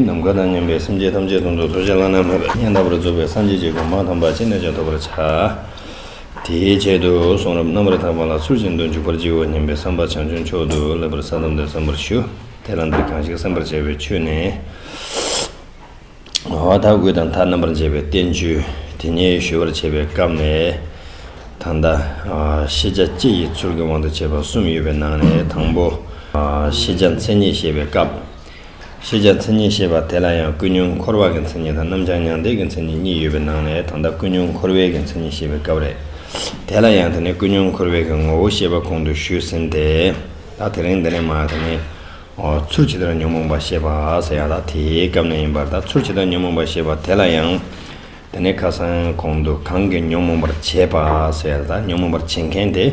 ནམ་མཁའ་དང་མཉམ་པའི་སེམས་ཅན་ཐམས་ཅད་དང་དུ་གསོལ་བྱ་བླ་ན་མེད་པའི་མཉན་ལྟ་བུར་རྫོགས་པའི་སངས་རྒྱས་ཀྱི་སྒོ་མང་དང་བར་ཆད་གནོད་བྱ་ཐོབ་པར་བྱ། དེའི་ཆེད་དུ་གསུང་རབ་རྣམ་པར་དག་པ་ལ་ཚུལ་བཞིན་དུ་འཇུག་པར་བགྱིའོ་སྙམ་པའི་བསམ་པ་བྱང་ཆུབ་མཆོག་ཏུ་སླེབ་པར་ས་དམ་དུ་བསམ་པར་ཞུ། དེ་ལ་འདིར་གང་ཞིག་སེམས་པར་བྱ་བའི་ཆོས་ནི། ངོ་བོ་མཐའ་དགུ་དང་མཐའ་རྣམ་པར་འབྱེད་པའི་བསྟན་བཅོས་དེ་ཉིད་ཞུ་བར་བྱེད་པའི་སྐབས་ནས། ད་ལྟ། ཤེས་བྱ་སྤྱི་ཡི་ཚུལ་གྱི་དབང་དུ་བྱས་པ་གསུམ་ཡོད་པའི་ནང་ནས་དང་པོ། ཤེས་བྱ་མཚན་ཉིད་བཤད་པའི་སྐབས། ཤེས་བྱ་མཚན་ཉིད་ཞེས་པ་དེ་ལ་ཡང་ཀུན་ཉོན་འཁོར་བ་གི་མཚན་ཉིད་དང་རྣམ་བྱང་མྱང་འདས་ཀྱི་མཚན་ཉིད་གཉིས་ཡོད་པའི་ནང་ནས་ད་ལྟ་ཀུན་ཉོན་འཁོར་བའི་གི་མཚན་ཉིད་ཞེས་པའི་སྐབས་རེད། དེ་ལ་ཡང་དེ་ནི་ཀུན་ཉོན་འཁོར་བའི་གི་ངོ་བོ་ཤེས་པ་གོང་དུ་ཞུས་ཟིན་ཏེ། ད་དེ་རིང་འདི་ནས་མ་དེ་ནི། ཚུར་ཇི་ལྟར་ཉོན་མོངས་པ་ཤེས་པ་ཟེར་ཡང་ད་དེའི་སྐབས་ནས་ཡིན་པར་ད་ཚུར་ཇི་ལྟར་ཉོན་མོངས་པ་ཤེས་པ་དེ་ལ་ཡང། དེ་ནི་ཁ་སང་གོང་དུ་གང་གིས་ཉོན་མོངས་པར་བྱེད་པ་ཟེར་ད་ཉོན་མོངས་པར་བྱེད་མཁན་དེ།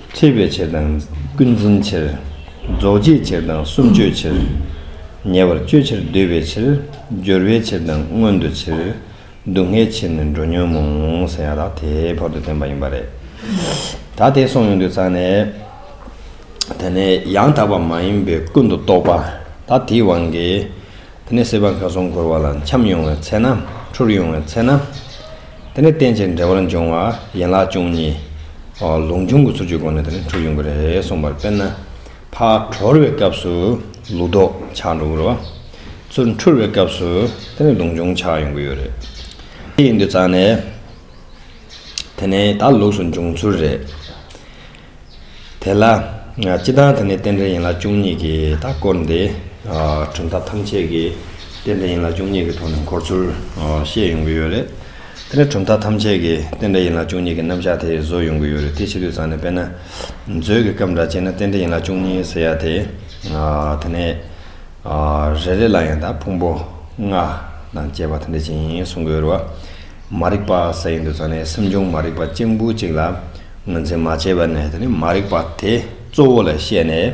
ཁྲེས་པའི་ཕྱིར་དང། ཀུན་འཛིན་ཕྱིར། རྫོགས་བྱེད་ཕྱིར་དང་གསུམ་སྤྱོད་ཕྱིར། ཉེ་བར་སྤྱོད་ཕྱིར་བསྡུ་བའི་ཕྱིར། སྦྱོར་བའི་ཕྱིར་དང་མངོན་དུ་ཕྱིར། སྡུག་བསྔལ་ཕྱིར་ནི་འགྲོ་ཉོན་མོངས། ཟེར་ཡང་དག་དེ་བར་དུ་ཐོན་པ་ཡིན་པ་རེད། ད་དེ་གསུངས་ཡོང་དུས་ཚང་ནས། དེ་ནས་ཡང་དག་པ་མ་ཡིན་པའི་ཀུན་ཏུ་རྟོག་པ། ད་དེའི་དབང་གིས། དེ་ནས་སྲེད་པ་མཁའ་གསུམ་འཁོར་བ་ལ་འཁྱམས་ཡོང་བའི་ཚེ་ན། འཁྲུར་ཡོང་བའི་ཚེ་ན། དེ་ནས་རྟེན་ཅིང་འབྲེལ་བར་འབྱུང་བ་ཡན་ལག་བཅུ་གཉིས། ལུང་ཆུང་གི་ཚུལ་གྱིས་སྒོ་ནས་དེ་ནས་འཁྲུར་ཡོང་གི་རེད་གསུངས་པར་དཔེར་ན། ཕག་གྲོལ་བའི་སྐབས་སུ་ལུག་ལྡོག་ཆགས་འགྲོ་གི་རེད་བ། ཚུར་འཁྲུར་བའི་སྐབས་སུ་དེ་ནས་ལུང་ཆུང་ཆགས་ཡོང་གི་ཡོད་རེད། དེ་ཡིན་དུས་ཙང་ནས། དེ་ནས་ད་ལུགས་སུ་འབྱུང་ཚུལ་རེད། དེ་ལ། སྤྱི་བདག་དེ་ནི་རྟེན་འབྲེལ་ཡིན་ལ་བཅུ་གཉིས་ཀྱིས་ད་བསྐོར་འདི། གྲུབ་མཐའ་ཐམས་ཅད་ཀྱི་རྟེན་འབྲེལ་ཡིན་ལ་བཅུ་གཉིས་ཀྱི་ཐོག་ནས་འཁོར་ཚུལ་བཤད་ཡོང་གི་ཡོད་རེད། དེ་ནི་གྲུབ་མཐའ་ཐམས་ཅད་ཀྱི་རྟེན་འབྲེལ་ཡིན་ལ་བཅུ་གཉིས་ཀྱི་རྣམ་གཞག་དེ་བཟོ་ཡོང་གི་ཡོད་རེད་དེ་ཕྱི་དུས་ཚང་ནས་དཔེར་ན། མཛོད་ཀྱི་སྐབས་འདྲ་བྱས་ན་རྟེན་འབྲེལ་ཡིན་ལ་བཅུ་གཉིས་ཟེར་ཡ་དེ། དེ་ནས། རེ་རེ་ལ་ཡང་ད་ཕུང་པོ་ལྔ་དང་བཅས་པ་དེ་འདྲ་ཅིག་ཡིན་གསུང་གི་ཡོད་རེད་བ། མ་རིག་པ་ཟེར་ཡོང་དུས་ཚང་ནས་སེམས་བྱུང་མ་རིག་པ་གཅིག་འབུ་གཅིག་ལ། ངོས་འཛིན་མ་བྱས་པ་ནས་དེ་མ་རིག་པ་དེ་གཙོ་བོ་ལ་བཤད་ནས།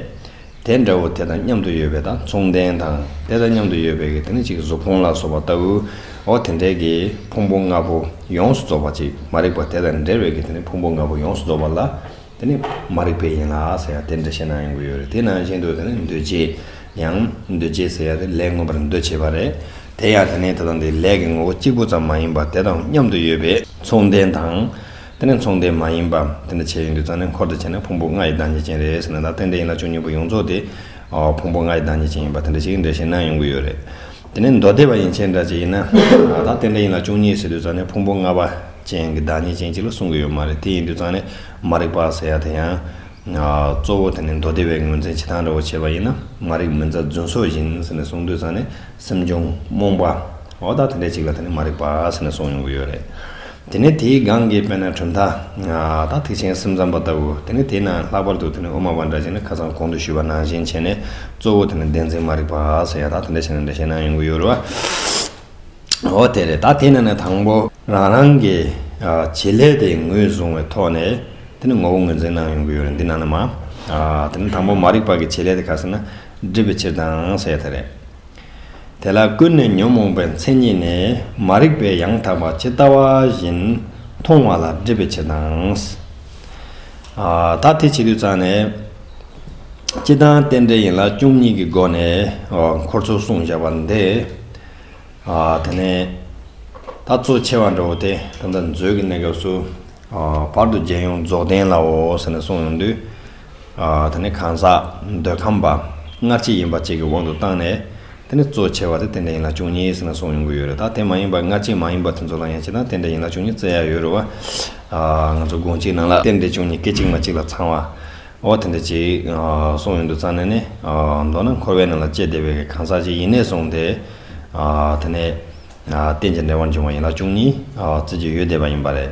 དེ་འདྲ་བོ་དེ་དང་མཉམ་དུ་ཡོད་པའི་དང་མཚུངས་ལྡན་དང་དེ་དང་མཉམ་དུ་ཡོད་པའི་དེ་ནི་གཅིག་གཟུགས་ཕུང་ལ་སོགས་པ་ལྟ་བུའོ། དེ་འདྲའི་གི་ཕུང་པོ་ལྔ་པོ་ཡོངས་སུ་རྫོགས་པ་གཅིག་མ་རིག་པ་དེ་དང་འབྲེལ་བའི་གི་དེ་ནི་ཕུང་པོ་ལྔ་པོ་ཡོངས་སུ་རྫོགས་པ་ལ་དེ་ནི་མ་རིག་པའི་ཡན་ལག་ཟེར་ཡང་དེ་འདྲ་བཤད་ན་ཡོང་གི་ཡོད་རེད་དེ་ནང་བཞིན་དུ་དེ་ནི་འདུ་བྱེད་ཡང་འདུ་བྱེད་ཟེར་ཡང་དེ་ལས་མངོན་པར་འདུ་བྱེད་པ་རེད། དེ་ཡང་དེ་ནི་དེ་དང་དེའི་ལས་ཀྱི་ངོ་བོ་གཅིག་པུ་ཙམ་མ་ཡིན་པར་དེ་དང་མཉམ་དུ་ཡོད་པའི་མཚུངས་ལྡན་དང། དེ་ནི་མཚུངས་ལྡན་མ་ཡིན་པ། དེ་འདྲ་བྱེད་ཡོན་གྱི་རྩ་ནི་འཁོར་དུ་བྱས་ན་ཕུང་པོ་ལྔ་ཡི་བདག་ཉིད་ཅན་རེད་ཟེར་ན་ད་གཏན་བདེ་ཡིན་ལ་བཅུ་གཉིས་པོ་ཡོངས་རྫོགས་དེ། ཕུང་པོ་ལྔ་ཡི་བདག་ཉིད་ཅན་ཡིན་པ་དེ་འདྲ་ཞིག་འགྲེལ་བཤད་གནང་ཡོང་གི་ཡོད་རེད། དེ་ནི་མདོ་སྡེ་པ་ཡིན་ཕྱིན་འདྲ་བྱེད་ཡིན་ན། ད་གཏན་བདེ་ཡིན་ལ་བཅུ་གཉིས་ཟེར་དུས་རྩ་ནི་ཕུང་པོ་ལྔ་པ་ཅན་གྱི་བདག་ཉིད་ཅན་ཅིག་ལ་གསུང་གི་ཡོད་མ་རེད་དེ་ཡིན་དུས་རྩ་ནི་མ་རིག་པ་ཟེར་ཡ་དེ་ཡང། གཙོ་བོ་དེ་ནི་མདོ་སྡེ་པའི་ངོས་འཛིན་བྱེད་སྟངས་འདྲ་བོ་བྱས་པ་ཡིན་ན་མ་རིག་མི་མཛའ་བརྫུན་སོགས་ཡིན་ཟེར་ནས་གསུང་དུས་རྩ་ནི་སེམས་བྱུང་རྨོངས་པ། འོ་ད་དེ་འདྲ་ཅིག་ལ་དེ་ནི་མ་རིག་པ་ཟེར་ནས་གསུང་ཡོང་གི་ཡོད་རེད། དེ་ནས་དེའི་སྒང་གི་དཔེར་ན་གྲུབ་མཐའ། དང་ཐེག་ཆེན་སེམས་ཙམ་པ་ལྟ་བུ། དེ་ནས་དེའི་ནང་ལྷག་པར་དུ་དེ་ནི་དབུ་མ་པ་འདྲ་བྱས་ནས་ཁ་ཚང་གོང་དུ་ཞུས་པ་ནང་བཞིན་བྱས་ནས་གཙོ་བོ་དེ་ནི་བདེན་འཛིན་མ་རིག་པ་སོགས་ཡང་དག་དེ་འདྲ་བྱས་ན་འདྲ་བྱས་ན་ཡོང་གི་ཡོད་རེད་བ། འོ་དེ་རེད་ད་དེ་ནས་ནས་དང་པོ། རང་རང་གི་བྱེད་ལས་དེ་ངོས་བཟུང་བའི་ཐོག་ནས་དེ་ནི་ངོ་བོ་ངོས་འཛིན་གནང་ཡོང་གི་ཡོད་རེད་འདི་ནང་ན་མ། དེ་ནི་དང་པོ་མ་རིག་པ་གི་བྱེད་ལས་དེ་ག་ཟེར་ན་སྒྲིབ་པའི་ཕྱིར་དང་ཟེར་ཡ་ད་རེད། དེ་ལ་ཀུན་ནས་ཉོན་མོངས་པའི་མཚན་ཉིད་ནི་མ་རིག་པའི་ཡང་དག་པ་ཇི་ལྟ་བ་བཞིན་མཐོང་བ་ལ་སྒྲིབ་པའི་ཕྱིར་དང། དག་དེ་བྱེད་དུས་ཙམ་ནས། སྤྱི་དང་རྟེན་འབྲེལ་ཡིན་ལ་བཅུ་གཉིས་ཀྱི་སྒོ་ནས་འཁོར་ཚོགས་གསུངས་བཞག་པ་འདི། དེ་ནས་ད་གཙོ་ཆེ་བ་འདྲ་བོ་དེ་ད་ལྟ་མཛོད་ཀྱི་གནས་སྐབས་སུ། བར་དུ་རྒྱལ་ཡོངས་རྫོགས་ལྡན་ལའོ་ཟེར་ནས་གསུངས་ཡོང་དུས། དེ་ནི་གང་ཟག་འདོད་ཁམས་པ་སྔར་ཅི་ཡིན་པ་བཅས་ཀྱི་དབང་དུ་བཏང་ནས། དེ་ནི་གཙོ་ཆེ་བ་དེ་དེ་འདྲ་ཡིན་ལ་བཅུ་གཉིས་ཟེར་ན་སོང་ཡོང་གི་ཡོད་རེད་ད་དེ་མ་ཡིན་པར་སྔར་ཅི་མ་ཡིན་པ་དེ་ཚོ་ལ་ཡང་ཅི་དང་དེ་འདྲ་ཡིན་ལ་བཅུ་གཉིས་བཙལ་ཡག་ཡོད་རེད་བ། ང་ཚོ་དགོངས་གཅིག་ནང་ལ་གཏན་བདེ་བཅུ་གཉིས་སྐད་ཅིག་མ་གཅིག་ལ་ཚང་བ། འོ་དེ་འདྲ་ཅིག་སོང་ཡོང་དུ་ཙང་ནས་ནི། མདོར་ན་འཁོར་བའི་ནང་ལ་སྐྱེས་བདེ་བའི་གང་ཟག་ཅིག་ཡིན་ནས་སོང་སྟེ། དེ་ནས་གཏན་གྱི་འབྲེལ་བར་འབྱུང་བ་ཡིན་ལ་བཅུ་གཉིས་བཙལ་གྱི་ཡོད་བསྡད་པ་ཡིན་པ་རེད།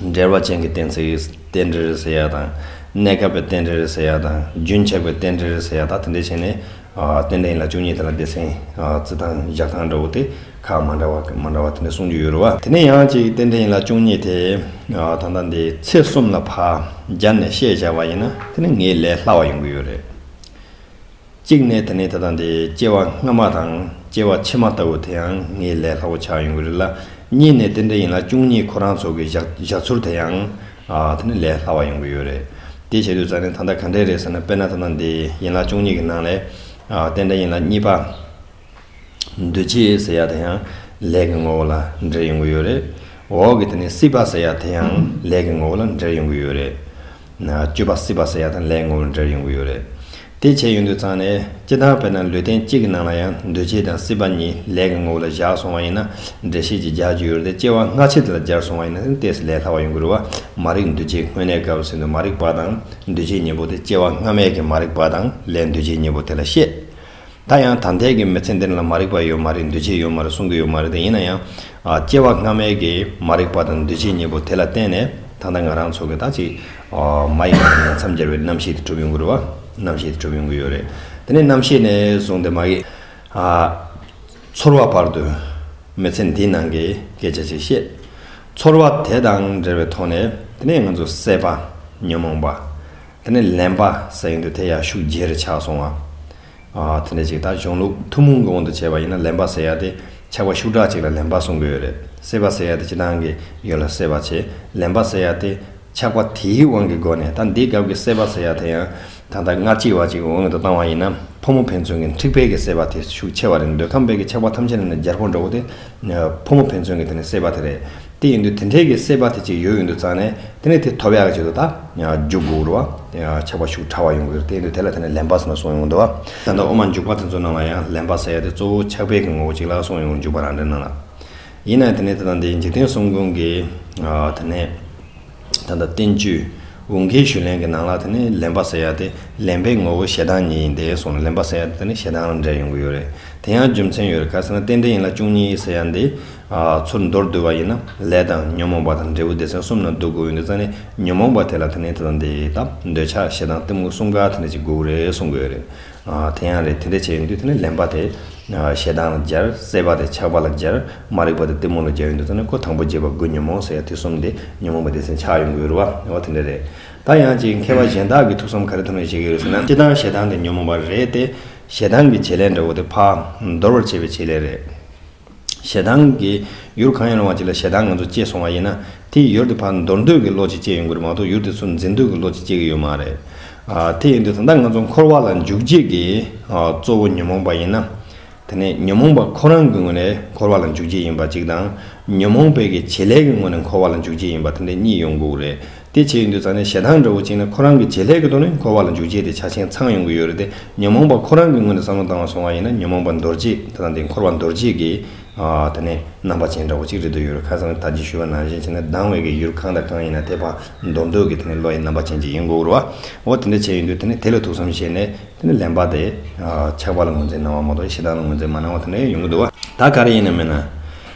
འབྲེལ་བ་ཅན་གྱི་གཏན་ཚིགས་རྟེན་འབྲེལ་རེ་ཟེར་ཡ་དང། གནས་སྐབས་པའི་རྟེན་འབྲེལ་རེ་ཟེར་ཡ་དང། རྒྱུན་ཆགས་པའི་རྟེན་འབྲེལ་རེ་ཟེར་ཡ་དང་དེ་འདྲས་བྱས་ནས། རྟེན་འབྲེལ་ཡིན་ལ་བཅུ་གཉིས་དེ་ལ་སྡེ་ཚན་རྩི་ཐང་བཞག་ཐང་འདྲ་བོ་དེ་ཁག་མ་འདྲ་བ་མ་འདྲ་བ་དེ་འདྲས་གསུངས་རྒྱུ་ཡོད་རུང་བ། དེ་ནས་ཡང་ཅིག་རྟེན་འབྲེལ་ཡིན་ལ་བཅུ་གཉིས་དེ་ད་ལྟ་འདི་ཚེས་གསུམ་ལ་ཕ་རྒྱ་ནས་བཤད་བྱ་བ་ཡིན་ན་དེ་ནི་ངའི་ལས་སླ་བ་ཡོང་གི་ཡོད་རེད། གཅིག་ནས་དེ་ནས་དེ་དང་དེ་སྐྱེ་བ་སྔ་མ་དང་སྐྱེ་བ་ཕྱི་མ་ལྟ་བུ་དེ་ཡང་ངའི་ལས་སླ་བོ་ཆགས་ཡོང་གི་རེད་ལ། གཉིས་ནས་དེ་འདྲ་ཡིན་ལ་བཅུ་གཉིས་ཁོ་རང་ཚོ་གི་བཞག་ཚུལ་དེ་ཡང་དེ་ནི་ལས་སླ་བ་ཡོང་གི་ཡོད་རེད། དེ་བྱེད་དུས་ཙང་ནས་ད་ལྟ་ག་འདྲས་རེད་ཟེར་ན་དཔེར་ན་དེ་དང་དེ་ཡིན་ལ་བཅུ་གཉིས་ཀྱི་ནང་ལས་དེ་འདྲ་ཡིན་ལ་གཉིས་པ། འདུ་བྱེད་ཟེར་ཡ་དེ་ཡང་ལས་ཀྱི་ངོ་བོ་ལ་འབྲེལ་ཡོང་གི་ཡོད་རེད། འོག་གི་དེ་ནི་སྲིད་པ་ཟེར་ཡ་དེ་ཡང་ལས་ཀྱི་ངོ་བོ་ལ་འབྲེལ་ཡོང་གི་ཡོད་རེད། སྤྱོད་པ་སྲིད་པ་ཟེར་ཡ་དང་ལས་ཀྱི་ངོ་བོ་ལ་འབྲེལ་ཡོང་གི་ཡོད་རེད། དེ་བྱས་ཡོང་དུས་ཙང་ནས་སྤྱི་དང་དཔེར་ན་ལུས་རྟེན་གཅིག་གི་ནང་ལ་ཡང་འདུ་བྱེད་དང་སྲིད་པ་གཉིས་ལས་ཀྱི་ངོ་བོ་ལ་བཞག་སོང་བ་ཡིན་ན་འགྲེལ་བཤད་ཀྱི་རྒྱག་རྒྱུ་ཡོད་རེད་དེ་ལྟ་སྐྱེ་བ་སྔ་ཕྱི་དེ་ལ་སྦྱར་སོང་བ་ཡིན་ན་ནི་ལྟས་ས་ལས་སླ་བ་ཡོང་གི་རུ་བ་མ་རིག་འདུ་བྱེད་དངོས་གནས་དགའ་བ་ཟིན་དུ་མ་རིག་པ་དང་འདུ་བྱེད་གཉིས་པོ་དེ་སྐྱེ་བ་སྔ་མའི་གི་མ་རིག་པ་དང་ལས་འདུ་བྱེད་གཉིས་པོ་དེ་ལ་བཤད། ད་ཡང་དམ་ཐལ་གྱི་མི་ཚེ་འདི་ལ་མ་རིག་པ་ཡོད་མ་རེད་འདུས་བྱས་ཡོད་མ་རེད་གསུང་གི་ཡོད་མ་རེད་ཡིན་ན་ཡང། སྐྱེ་བ་སྔ་མའི་གི་མ་རིག་པ་དང་འདུས་བྱས་གཉིས་པོ་དེ་ལ་བརྟེན་ནས་ད་ལྟ་ང་རང་ཚོ་གི་ད་ཅིག་མ་ཡིན་པ་ནས་མཚམས་སྦྱར་བའི་རྣམ་ཤེས་དེ་གྲུབ་ཡོང་གི་རེད་བ། རྣམ་ཤེས་དེ་གྲུབ་ཡོང་གི་ཡོད་རེད། དེ་ནས་རྣམ་ཤེས་ནས་བཟུང་སྟེ་མ་གི། ཚོར་བ་བར་དུ། མི་ཚེ་འདིའི་ནང་གི་སྐད་ཆ་ཅིག་བཤད། ཚོར་བ་དེ་དང་འབྲེལ་བའི་ཐོག་ནས་དེ་ནས་ང་ཚོ་སྲེད་པ། ཉོན་མོངས་པ། དེ་ནས་ལན་པ་ཟེར་གྱི་འདུག་དེ་ཡར་ཤུགས་རྒྱས་རེ་ཆགས་སོང་ངམ། དེ་འདྲ་ཅིག་ད་གཞུང་ལུགས་ཐུང་མོང་གི་དབང་དུ་བྱས་པ་ཡིན་ན་ལན་པ་ཟེར་ཡ་དེ་ཆགས་པ་ཤུགས་དྲག་ཅིག་ལ་ལན་པ་གསུང་གི་ཡོད་རེད། སེར་བ་ཟེར་ཡ་དེ་ཅི་གནང་གི་ཡོད་ལ་སེར་བ་བྱས་ལན་པ་ཟེར་ཡ་དེ་ཆགས་པ་དེའི་དབང་གི་སྒོ་ནས་ད་འདི་སྐབས་ཀྱི་སེར་བ་ཟེར་ཡ་དེ་ཡང་ད་ལྟ་སྔར་སྐྱིད་བ་ཅིག་འོང་དུ་བཏང་བ་ཡིན་ན་ཕོ་མོ་ཕན་ཚུན་གྱི་འཁྲིག་པས་ཀྱི་སེར་བ་དེ་ཤུགས་ཆེ་བ་རེད་འདོད་ཁམས་པས་ཀྱི་ཆགས་པ་ཐམས་ཅད་ནི་ནི་རྒྱལ་འཁོར་འགྲོ་བོ་དེ་ཕོ་མོ་ཕན་ཚུན་གྱི་དེ་ནི་སྲེད་པ་དེ་རེད། དེ་ཡིན་དུས་དེ་འཕྲལ་གྱི་སྲེད་པ་དེ་ཅིག་ཡོད་ཡོད་འདུག་ཙང་ནས་དེ་ནི་དེ་ཐོབ་ཡག་གི་ཆེད་དུ་ད། འཇུག་དགོས་རུ་བ། ཆགས་པ་ཤུགས་ཕྲ་བ་ཡོང་གི་རེད་དེ་ཡིན་དུས་དེ་ལ་དེ་ནི་ལན་པར་ཟེར་ན་སོང་ཡོང་འདུག་བ། ད་ལྟ་འོ་མ་འཇུག་པ་དེ་ཚོ་རྣམས་ལ་ཡང་ལན་པར་ཟེར་ཡག་དེ་གཙོ་བོ་ཆགས་པས་ཀྱི་ངོ་བོ་གཅིག་ལ་སོང་ཡོང་འཇུག་པ་རང་འདྲའི་སྣང་ལ། ཡིན་ནའི་དེ་ནི་དེ་དང་དེའི་འཇིག་རྟེན་གསུམ་ཀུན་གྱི། དེ་ནས། ད་ལྟ་བསྟན་བཅོས་འུང་ཁའི་ཞུས་ལན་གྱི་ནང་ལ་དེ་ནི་ལེན་པ་ཟེར་ཡ་དེ་ལེན་པའི་ངོ་བོ་ཞེ་སྡང་ཉིད་ཡིན་ཏེ་གསུངས་ལེན་པ་ཟེར་ཡ་དེ་ནི་ཞེ་སྡང་ལ་འབྲེལ་ཡོང་གི་ཡོད་རེད་དེ་ཡང་རྒྱུ་མཚན་ཡོད་རེད་ག་ཟེར་ན་རྟེན་འབྲེལ་ཡིན་ལ་བཅུ་གཉིས་ཟེར་ཡ་འདི་ཚུར་མདོར་བསྡུས་པ་ཡིན་ན་ལས་དང་ཉོན་མོངས་པ་དང་འབྲས་བུ་སྡེ་ཚན་གསུམ་ན་འདུ་དགོས་ཡོད་འདི་ཙམ་ནི་ཉོན་མོངས་པ་དེ་ལ་དེ་ནི་དེ་དང་དེ་དང་འདོད་ཆགས་ཞེ་སྡང་གཏི་མུག་གསུམ་ག་དེ་ནི་གཅིག་དགོས་རེད་གསུངས་གི་ཡོད་རེད། དེ་ཡང་རེད་དེ་འདྲས་བྱས་ཡོང་དུས་དེ་ནས་ལེན་པ་དེ་ཞེ་སྡང་ལ་སྦྱར་བསད་པ་དེ་ཆགས་པ་ལ་སྦྱར་མ་རིག་པ་དེ་གཏི་མུག་ལ་སྦྱར་ཡོང་དུས་དེ་ནས་ཁོ་དང་པོ་བརྗེད་པ་དགུ་ཉོན་མོངས་ཟེར་ཡང་དེ་གསུམ་དེ་ཉོན་མོངས་པ་སྡེ་ཚན་ཆགས་ཡོང་གི་རུ་བ་འོ་དེ་འདྲས་རེད་ད་ཡང་ཅིག་མཁས་པ་གཞན་དག་གི་ཐུགས་བསམ་ག་རེ་ཐོག་ནས་བཞེད་ཀྱི་ཡོད་ཟེར་ན་སྤྱི་སྡང་ཞེ་སྡང་དེ་ཉོན་མོངས་པ་རེད་དེ་ཞེ་སྡང་གི་བྱེད་ལས་འདྲ་བོ་དེ་ཕ་འདོར་བར་བྱེད་པའི་བྱེད་ལས་རེད། ཞེ་སྡང་གིས་ཡུར་གང་ཡང་སློང་བ་ཅིག་ལ་ཞེ་སྡང་ང་ཚོ་སྐྱེས་སོང་བ་ཡིན་ན། དེས་ཡུར་དེ་ཕར་འདོར་འདོད་ཀྱི་བློ་ཅིག་སྐྱེས་ཡོང་གི་རེད་མ་གཏོགས་ཡུར་དེ་ཚུར་འཛིན་འདོད་ཀྱི་བློ་ཅིག་སྐྱེས་ཀྱི་ཡོད་མ་རེད། དེ་ཡིན་དུས་ད་ལྟ་ང་ཚོ་འཁོར་བ་ལ་འཇུག་བྱེད་ཀྱི་གཙོ་བོ་ཉོན་མོངས་པ་ཡིན་ན། དེ་ནས་ཉོན་མོངས་པ་ཁོ་རང་གི་ངོས་ནས་འཁོར་བ་ལ་འཇུག་བྱེད་ཡིན་པ་གཅིག་དང། ཉོན་མོངས་པའི་གི་བྱེད་ལས་ཀྱི་ངོས་ནས་འཁོར་བ་ལ་འཇུག་བྱེད་ཡིན་པ་དེ་འདྲ་གཉིས་ཡོང་དགོས་ཀྱི་རེད། དེ་བྱེད་ཀྱི་འདུག་ཙང་ནས་ཞེ་སྡང་འདྲ་བོ་བཅིངས་ནས་ཁོ་རང་གི་བྱེད་ལས་ཀྱི་ཐོག་ནས་འཁོར་བ་ལ་འཇུག་བྱེད་དེ་ཆ་ཆེན་ཚང་ཡོང་གི་ཡོད་རེད་དེ་ཉོན་མོངས་པ་ཁོ་རང་གི་ངོས་ནས་བསམ་བློ་བཏང་བ་སོང་བ་ཡིན་ན་ཉོན་མོངས་པ་འདོར་བྱེད་དེ་དང་དེ་འཁོར་བ་འདོར་བྱེད་ཀྱི་ད་ནས་རྣམ་པ་ཅན་འདྲ་བོ་གཅིག་རེད་འདོད་ཡོད་རེད་ཁ་སང་ད་ཅི་ཞུ་བ་ནང་བཞིན་བྱས་ན་སྡང་བའི་གི་ཡུལ་གང་དང་གང་ཡིན་ན་དེ་བར་འདོར་འདོད་ཀྱི་དེ་ནས་བློ་ཡི་རྣམ་པ་ཅན་གཅིག་ཡིན་དགོས་རུ་བའོ་དེ་འདྲ་བྱས་ཡོད་འདུག་དེ་ནས་དེ་ལ་ཐུགས་བསམ་བཞེས་ནས་དེ་ནས་ལན་པ་དེ་ཆགས་པ་ལ་ངོས་འཛིན་གནང་བ་མ་གཏོགས་ཞེ་སྡང་ལ་ངོས་འཛིན་མ་གནང་བ་དེ་འདྲ་ཡང་ཡོང་གི་འདུག་བ། ད་ག་རེ་ཡིན་ནམ་མེད་ན།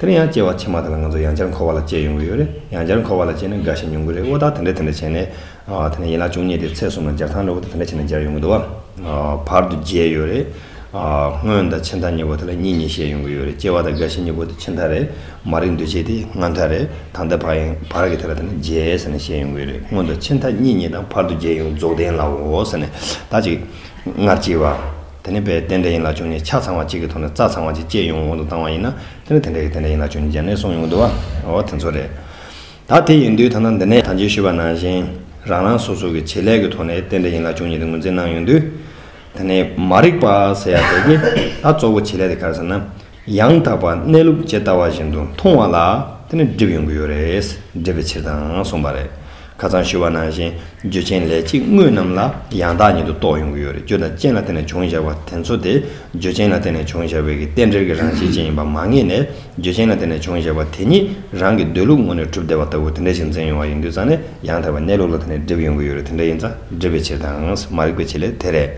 དེ་ལ་ཡང་སྐྱེ་བ་ཕྱི་མ་དག་ལ་ང་ཚོ་ཡང་བསྐྱར་འཁོར་བ་ལ་སྐྱེ་ཡོང་གི་ཡོད་རེད། ཡང་བསྐྱར་འཁོར་བ་ལ་སྐྱེས་ན་དགའ་ཞིང་ཉུང་གི་རེད་འོ་ད་དེ་འདྲ་དེ་འདྲ་བྱས་ནས། དེ་ནས་ཡན་ལག་བཅུ་གཉིས་དེ་ཚེས་གསུམ་ལ་སྦྱར་ཐང་ལས་འོ་ད་དེ་འདྲ་བྱས་ནས་སྦྱར་ཡོང་གི་འདུག་བ། བར་དུ་བརྗེས་ཡོད་རེད། སྔོན་དང་ཕྱི་མཐའ་གཉིས་པོ་དེ་ལ་གཉིས་གཉིས་བཤད་ཡོང་གི་ཡོད་རེད་སྐྱེ་བ་དང་རྒ་ཤི་གཉིས་པོ་དེ་ཕྱི་མཐའ་རེད། མ་རིག་འདུས་བྱས་དེ་སྔ་མཐའ་རེད་ད་ལྟ་བར་ཡང་བར་གྱི་དེ་ལ་དེ་ནས་བརྗེས་ཟེར་ནས་བཤད་ཡོང་གི་ཡོད་རེད་སྔོན་དང་ཕྱི་མཐའ་གཉིས་གཉིས་དང་བར་དུ་བརྗེས་ཡོང་རྫོགས་ལྡན་ལའོ་ཟེར་ནས་ད་ཅིག་སྔར་སྐྱེས་བ། དེ་ནི་པའི་རྟེན་འབྲེལ་ཡིན་ལ་བྱུང་ནས་ཆ་ཚང་བ་གཅིག་གི་ཐོག་ནས་རྩ་ཚང་བ་གཅིག་བཅད་ཡོང་གོང་དུ་བཏང་བ་ཡིན་ན་དེ་ནི་དེ་འདྲ་ཡི་རྟེན་འབྲེལ་ཡིན་ལ་བྱུང་ནས་སྦྱར་ནས་སོང་ཡོང་དུ་བའོ་དེ་ཚོ་རེད། ད་དེ་ཡིན་དུས་ཐ་ན་འདི་ནས་ད་ཇི་ཞུས་པ་ནང་བཞིན་རང་རང་སོ་སོ་གི་བྱེད་ལས་ཀྱི་ཐོག་ནས་རྟེན་འབྲེལ་ཡིན་ལ་བྱུང་ཉིད་དེ་ངོས་འཛིན་གནང་ཡོང་དུས། དེ་ནི་མ་རིག་པ་ཟེར་ཡག་པས་ཀྱི་ད་གཙོ་བོ་བྱེད་ལས་དེ་ག་རེ་ཟེར་ན། ཡང་དག་པར་གནས་ལུགས་ཇི་ལྟ་བ་བཞིན་དུ་མཐོང་བ་ལ་དེ་ནི་སྒྲིབ་ཡོང་གི་ཡོད་རེད་སྒྲིབ་པའི་ཕྱིར་དང་གསུངས་པ་རེད། ཁ་ཚང་ཞུ་བ་ནང་བཞིན་རྒྱུ་ཅན་ལས་གཅིག་དངོས་རྣམས་ལ་ཡང་དག་ཉིད་དུ་རྟོགས་ཡོང་གི་ཡོད་རེད་རྒྱུ་དང་རྐྱེན་ལ་བརྟེན་ནས་བྱུང་བཞག་པ་དེ་ཚོ་དེ་རྒྱུ་ཅན་ལ་བརྟེན་ནས་བྱུང་བཞག་པའི་གི་རྟེན་འབྲེལ་གྱི་རང་བཞིན་ཅན་ཡིན་པ་མ་ངེས་ནས་རྒྱུ་ཅན་ལ་བརྟེན་ནས་བྱུང་བཞག་པ་དེ་ཉིད་རང་གི་འདོད་ལུགས་ངོ་ནས་གྲུབ་བདེ་བ་ལྟ་བུ་དེ་འདྲ་ཞིག་འཛིན་ཡོང་བ་ཡིན་དུས་ཙང་ནས་ཡང་དག་པའི་གནས་ལུགས་ལ་དེ་ནི་སྒྲིབ་ཡོང་གི་ཡོད་རེད་དེ་འདྲ་ཡིན་ཙང་སྒྲིབ་པའི་ཕྱིར་དང་མ་རིག་པའི་ཕྱིར་ལས་དེ་རེད།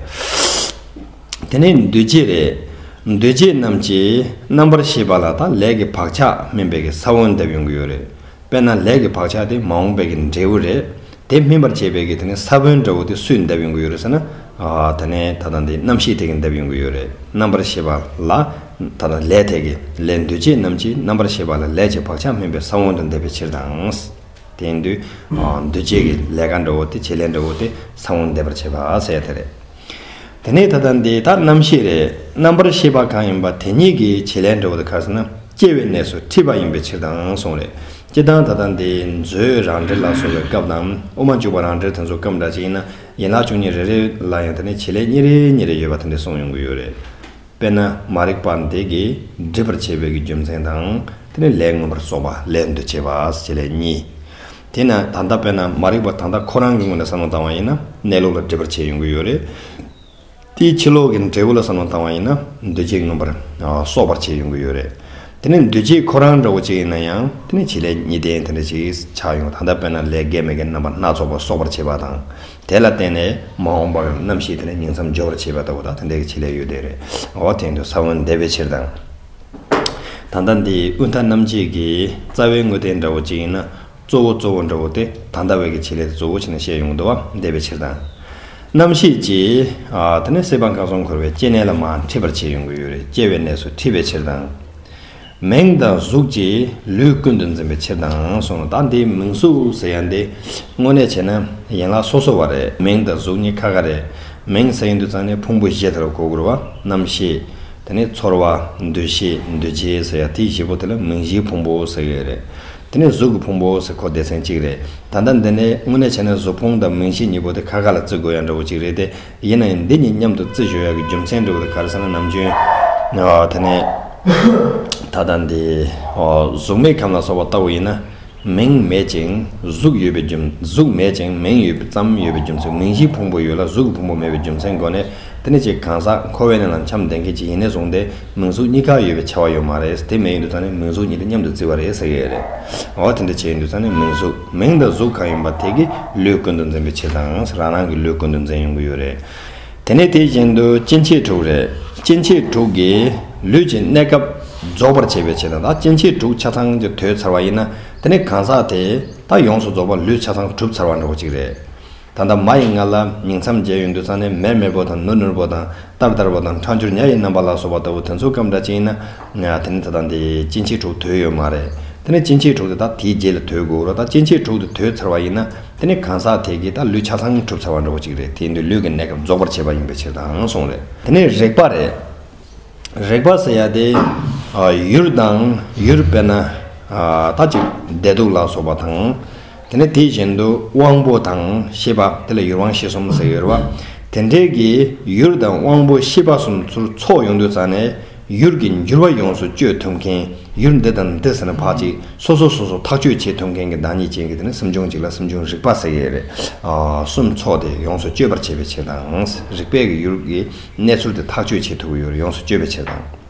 དེ་ནས་འདུས་བྱས་ལས། འདུས་བྱས་རྣམས་ཀྱི་རྣམ་པར་ཤེས་པ་ལ་དང་ལས་ཀྱི་བག་ཆགས་སྨིན་པའི་གི་ས་བོན་བརྡབ་ཡོང་གི་ཡོད་རེད། དཔེར་ན་ལས་ཀྱི་བག་ཆགས་དེ་མ་འོངས་པའི་གི་འབྲས་བུ་རེད། དེ་སྨིན་པར་བྱེད་པའི་གི་དེ་ནི་ས་བོན་འདྲ་བོ་དེ་སུས་བརྡབ་ཡོང་གི་ཡོད་རེད་ཟེར་ན། དེ་ནི་ད་ལྟ་འདི་རྣམ་ཤེས་དེ་གི་བརྡབ་ཡོང་གི་ཡོད་རེད། རྣམ་པར་ཤེས་པ་ལ་ད་ལྟ་ལས་དེ་གི་ལས་འདུས་བྱས་རྣམས་ཀྱི་རྣམ་པར་ཤེས་པ་ལ་ལས་ཀྱི་བག་ཆགས་སྨིན་པའི་ས་བོན་དུ་འདེབས་པའི་ཕྱིར་དང། དེ་འདུས་བྱས་ཀྱི་ལས་ཀ་འདྲ་བོ་དེ་བྱེད་ལས་འདྲ་བོ་དེ་ས་བོན་འདེབས་པར་བྱེད་པ་ཟེར་ཡ་དེ་རེད། དེ་ནས་ད་ལྟ་འདི་དག་རྣམ་ཤེས་རེད་རྣམ་པར་ཤེས་པ་གང་ཡིན་པ་དེ་ཉིད་ཀྱི་བྱེད་ལས་འབྲས་བུ་དེ་ག་ས་ན་སྐྱེ་བའི་གནས་སུ་འཁྲིད་པ་ཡིན་པའི་ཕྱིར་དང་གསུངས་རེད། སྤྱིར་བཏང་ད་ལྟ་འདི་མཛོད་རང་འགྲེལ་ལ་སོགས་པའི་སྐབས་དང་དབུ་མ་འཇུག་པ་རང་འགྲེལ་དེ་ཚོ་སྐབས་འདྲ་ཅིག་ཡིན་ན་ཡན་ལག་བཅུ་གཉིས་རེ་རེ་ལ་ཡང་དེ་ནས་བྱེད་ལས་གཉིས་རེ་གཉིས་རེ་ཡོད་པ་དེ་འདྲ་གསུངས་ཡོང་གི་ཡོད་རེད། དཔེར་ན་མ་རིག་པ་འདི་གིས་སྒྲིབ་པར་བྱེད་པའི་གི་རྒྱུ་མཚན་དང། དེ་ནས་ལས་མངོན་པར་རྫོགས་པ་ལས་འདུ་བྱེད་པ་བྱེད་ལས་གཉིས། དེས་ན་ད་ལྟ་དཔེར་ན་མ་རིག་པ་དང་ཐག་ཁོ་རང་གི་ངོས་ནས་བསམ་བློ་བཏང་བ་ཡིན་ན་གནས་ལུགས་ལ་འདྲིས་པར་བྱས་ཡོང་གི་ཡོད་རེད། དེའི་ཕྱི་ལོག་གི་འབྲས་བུ་ལ་བསམ་བློ་བཏང་བ་ཡིན་ན་འདུ་བྱེད་མངོན་པར་སོགས་པར་བྱས་ཡོང་གི་ཡོད་རེད། དེ་ནི་འདུ་བྱེད་ཁོ་རང་འདྲ་བོ་གཅིག་ཡིན་ན་ཡང་དེ་ནི་བྱེད་ལས་ཉིད་ལྡན་དེ་འདྲ་ཞིག་ཆགས་ཡོང་ད་ལྟ་དཔེར་ན་ལས་དགེ་མི་དགེ་རྣམ་པ་སྣ་ཚོགས་པ་གསོག་པར་བྱེད་པ་དང་དེ་ལ་བརྟེན་ནས་མ་འོངས་པར་རྣམ་ཤེས་དེ་ནི་ཉིང་མཚམས་སྦྱོར་བར་བྱེད་པ་ལྟ་བུ་དག་དེ་འདྲ་གི་བྱེད་ལས་ཡོད་དེ་རེད། འོ་དེ་ནི་ས་བོན་འདེབས་པའི་ཕྱིར་དང། ད་ལྟ་འདི་དབུས་མཐའ་རྣམ་འབྱེད་ཀྱི་རྩ་བའི་དངོས་བསྟན་འདྲ་བོ་གཅིག་ཡིན་ན་གཙོ་བོ་གཙོ་བོ་འདྲ་བོ་སྟེ་ད་ལྟ་བའི་ཀྱི་བྱེད་ལས་དེ་གཙོ་བོ་བྱས་ནས་བཤད་ཡོང་དུ་བ་བདེ་བའི་ཕྱིར་དང། རྣམ་ཤེས་ཀྱིས་དེ་ནས་སྲེད་པ་འགགས་སོང་འཁོར་བའི་སྐྱེ་གནས་ལ་མ་འཁྲིད་པར་བྱས་ཡོང་གི་ཡོད་རེད་སྐྱེ་བའི་གནས་སུ་འཁྲིད་པའི་ཕྱིར་དང། མིང་དང་གཟུགས་ཀྱིས་ལུས་ཀུན་ཏུ་འཛིན་པའི་ཕྱིར་དང་གསུངས་ལ་ད་འདི་མིང་གཟུགས་ཟེར་ཡང་འདི་དངོས་གནས་བྱས་ན་ཡན་ལག་སོ་སོ་བ་རེད་མིང་དང་གཟུགས་གཉིས་ཁ་ཁ་རེད་མིང་ཟེར་ཡང་དུས་ཚང་ནས་ཕུང་པོ་བཞི་དེ་ལ་གོ་དགོས་རུ་བ་རྣམ་ཤེས་དེ་ནས་ཚོར་བ། འདུ་ཤེས། འདུ་བྱེད་ཟེར་ཡ་དེ་བཞི་པོ་དེ་ལ་མིང་བཞིའི་ཕུང་པོ་ཟེར་གི་རེད། དེ་ནས་གཟུགས་ཀྱི་ཕུང་པོ་ཟེར་གོ་སྡེ་ཚན་གཅིག་རེད། ད་ལྟ་འདི་ནས་དངོས་གནས་བྱས་ན་གཟུགས་ཕུང་དང་མིང་བཞི་གཉིས་པོ་དེ་ཁ་ཁ་ལ་བརྩི་དགོས་ཡ་འདྲ་བོ་གཅིག་རེད་དེ། ཡིན་ན་ཡང་འདི་གཉིས་མཉམ་དུ་བརྩི་ཞོ་ཡ་གི་རྒྱུ་མཚན་འབྲི་བ་དེ་ག་རེ་ཟེར་ན་ནམ་རྒྱུན། དེ་ནས། ད་ལྟ་འདི། གཟུགས་མེད་ཁམས་ལ་སོགས་པ་ལྟ་བུ་ཡིན་ན། མིང་མེད་ཅིང་གཟུགས་ཡོད་པའི་རྒྱུ་གཟུགས་མེད་ཅིང་མིང་ཡོད་པའི་ཙམ་ཡོད་པའི་རྒྱུ་མཚན་མིང་གཞིའི་ཕུང་པོ་ཡོད་ལ་གཟུགས་ཀྱི་ཕུང་པོ་མེད་པའི་རྒྱུ་མཚན་སྒོ་ནས་དེ་ནི་གཅིག་གང་ཟག་ཁོ་བོས་ནི་ལ་འཁྱམས་ལྡན་མཁན་གཅིག་ཡིན་ནས་བཟུང་སྟེ་མིང་གཟུགས་གཉིས་ཀ་ཡོད་པའི་ཆེ་བ་ཡོད་མ་རེད་དེ་མེད་ཡོད་འདུག་ཚང་ནི་མིང་གཟུགས་གཉིས་དེ་མཉམ་དུ་བརྩི་བ་རེད་ཟེར་གྱི་རེད་འོ་དེ་འདྲ་བྱས་ཡོད་འདུག་ཚང་ནི་མིང་གཟུགས་མིང་དང་གཟུགས་གང་ཡིན་པ་དེ་གི་ལུས་ཀུན་ཏུ་འཛིན་པའི་ཕྱིར་དང་རང་རང་གི་ལུས་ཀུན་ཏུ་འཛིན་ཡོང་གི་ཡོད་རེད། དེ་ནས་དེ་བཞིན་དུ་སྐྱེ་མཆེད་དྲུག་རེད། སྐྱེ་མཆེད་དྲུག་གིས་ལུས་ཀྱི་གནས་སྐབས་རྫོགས་པར་བྱེད་པའི་ཕྱིར་དང། སྐྱེ་མཆེད་དྲུག་ཆ་ཚང་གི་དོད་ཚར་བ་ཡིན་ན་དེ་ནི་གང་ཟག་དེ་དག་ཡོངས་སུ་རྫོགས་པར་ལུས་ཆ་ཚང་གྲུབ་ཚར་བ་འདྲ་བོ་ཅིག་རེད། ད་ལྟ་མ་ཡི་ངག་ལ་ཉིང་མཚམས་བརྒྱད་ཡོད་འདུག་ཚང་ནི་མེར་མེར་པོ་དང་ནུར་ནུར་པོ་དང་ལྟར་ལྟར་པོ་དང་འཕྲང་འཕྱུར་ཉྭ་ཡི་རྣམ་པ་ལ་སོགས་པ་ལྟ་བུ་དེ་ཚོ་སྐབས་འདྲ་ཅན་ཡིན་ན། དེ་ནི་ད་ལྟ་འདི་སྐྱེ་མཆེད་དྲུག་དོད་ཡོད་མ་རེད། དེ་ནི་སྐྱེ་མཆེད་དྲུག་དེ་དག་དེའི་རྗེས་ལ་དོད་དགོས་རོགས་ད་སྐྱེ་མཆེད་དྲུག་དེ་དོད་ཚར་བ་ཡིན་ན། དེ་ནི་གང་ཟག་དེ་གིས་ད་ལུས་ཆ་ཚང་གྲུབ་ཚར་བ་འདྲ་བོ་ཅིག་རེད་དེས་འདི་ལུས་ཀྱི་གནས་སྐབས་རྫོགས་པར་བྱེད་པ་ཡིན་པའི་ཕྱིར་དང་གསུངས་རེད། དེ་ནི་རེག་པ་རེད། རེག་པ་ཟེར་ཡ་དེ། ཡུལ་དང་ཡུལ་དཔེར་ན། ད་ཅིག་བདེ་སྡུག་ལ་སོགས་པ་དང། དེ་ནི་དེ་བཞིན་དུ་དབང་པོ་དང་ཤེས་པ་དེ་ལ་ཡུལ་དབང་ཤེས་གསུམ་ཟེར་ཡོད་རེད་བ། དེ་འདྲའི་གི་ཡུལ་དང་དབང་པོ་ཤེས་པ་གསུམ་ཚུར་ཚོགས་ཡོང་དུས་ཙང་ནས། ཡུལ་གྱི་འགྱུར་བ་ཡོངས་སུ་གཅོད་ཐུབ་མཁན་ཡུལ་འདི་དང་འདི་ཟེར་ན་བག་ཅིག་སོ་སོ་སོ་སོ་ཐག་གཅོད་བྱེད་ཐུབ་མཁན་གྱི་བདག་ཉིད་ཅན་གྱི་དེ་ནི་སུམ་ཆུང་གཅིག་ལ་སུམ་ཆུང་རིག་པ་ཟེར་གྱི་རེད། སུམ་ཚོགས་དེ་ཡོངས་སུ་གཅོད་པར་བྱེད་པའི་ཕྱིར་དང། རིག་པས་གི་ཡུལ་གྱི་གནས་ཚུལ་དེ་ཐག་གཅོད་བྱེད་ཐུབ་ཀྱི་ཡུལ་ཡོངས་སུ་གཅོད་པའི་ཕྱིར་དང།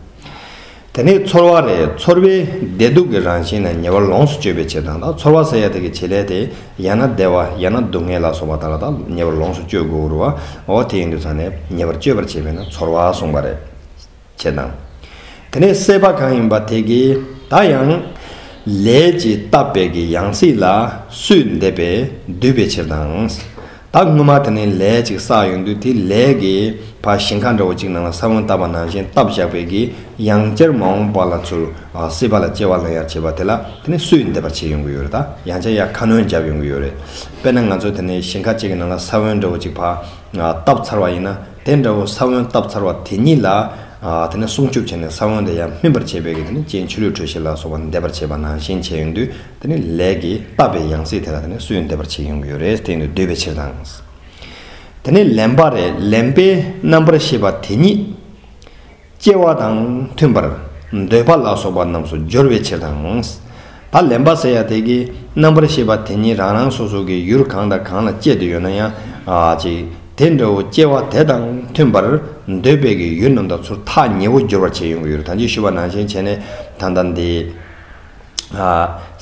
དེ་ནི་ཚོར་བ་རེད་ཚོར་བའི་བདེ་སྡུག་གི་རང་བཞིན་ནི་ཉེ་བར་ལོངས་སུ་སྤྱོད་པའི་ཕྱིར་དང། ཚོར་བ་ཟེར་ཡ་དེ་གི་བྱེད་ལས་དེ་ཡང་ན་བདེ་བ་ཡང་ན་སྡུག་བསྔལ་ལ་སོགས་པ་དག་ལ་དག་ཉེ་བར་ལོངས་སུ་སྤྱོད་དགོས་རུ་བའོ་དེ་ཡིན་དུས་ཚང་ནས་ཉེ་བར་སྤྱོད་པར་བྱེད་པས་ན་ཚོར་བ་གསུངས་པ་རེད། ཅེ་ན། དེ་ནས་སྲེད་པ་གང་ཡིན་པ་དེ་ཀྱིས་བདག་ཡང། ལས་ཀྱིས་བཏབ་པའི་གི་ཡང་སྲིད་ལ་སུས་འདེབས་པས་བསྡུས་པའི་ཕྱིར་དང། ད་སྔོན་མ་དེ་ནས་ལས་ཅིག་བསགས་ཡོང་དུས་དེ་ལས་ཀྱི་བ་ཞིང་ཁ་འདྲ་བོ་ཅིག་ནང་ལ་ས་བོན་བཏབ་པ་ནང་བཞིན་བཏབ་བཞག་པའི་གི་ཡང་སྐྱེར་མ་འོངས་པ་ལ་ཚུར་སྲེད་པ་ལ་སྐྱེ་བ་ལ་ཡང་བྱེད་པ་དེ་ལ་དེ་ནས་སུས་འདེབས་པ་བྱེད་ཡོང་གི་ཡོད་རེད་ད་ཡང་ཆ་ཡ་ཁ་སྣོན་བརྒྱབ་ཡོང་གི་ཡོད་རེད། དཔེར་ན་ང་ཚོ་དེ་ནས་ཞིང་ཁ་ཅིག་གི་ནང་ལ་ས་བོན་འདྲ་བོ་ཅིག་བཏབ་ཚར་བ་ཡིན་ན། དེ་འདྲ་བོ་ས་བོན་བཏབ་ཚར་བ་དེ་ཉིད་ལ། དེ་ནས་སྲུང་སྐྱོབ་བྱས་ནས་ས་བོན་དེ་ཡང་སྨིན་པར་བྱས་པས་ཀྱི་དེ་ནི་སྤྱན་ཆུ་ལུད་དྲོད་གཤེར་ལ་སོགས་པ་འདེབས་པར་བྱེད་པ་ནང་བཞིན་བྱས་ཡོང་དུས་དེ་ནི་ལས་ཀྱི་བཏབ་པའི་ཡང་སྲིད་དེ་ལ་དེ་ནི་སུས་འདེབས་པར་བྱས་ཡོང་གི་ཡོད་རེད་བསྟན་དུ་སྡོད་པའི་ཕྱིར་དང། དེ་ནི་ལེན་པ་རེད་ལེན་པའི་རྣམ་པར་ཤེས་པ་དེ་ཉིད། སྐྱེ་བ་དང་མཐུན་པར་འདོད་པ་ལ་སོགས་པ་རྣམས་སུ་སྦྱོར་བའི་ཕྱིར་དང། ད་ལན་པ་ཟེར་ཡང་དེ་ཀའི་རྣམ་པར་ཤེས་པ་དེ་ཉིད་རང་རང་སོ་སོ་གི་ཡུལ་གང་དང་གང་ལ་སྐྱེད་དུ་ཡོད་ན་ཡང་ཅིག་དེ་འདྲ་བོ་སྐྱེ་བ་དེ་དང་མཐུན་པར་འདོད་པའི་གི་ཡུལ་རྣམས་དང་ཚུར་ཐག་ཉེ་བོ་སྦྱོར་བར་བྱེད་ཡོང་གི་ཡུལ་དང་ཅིག་ཤོས་པ་ནང་བཞིན་བྱས་ནས་ད་ལྟ་འདི་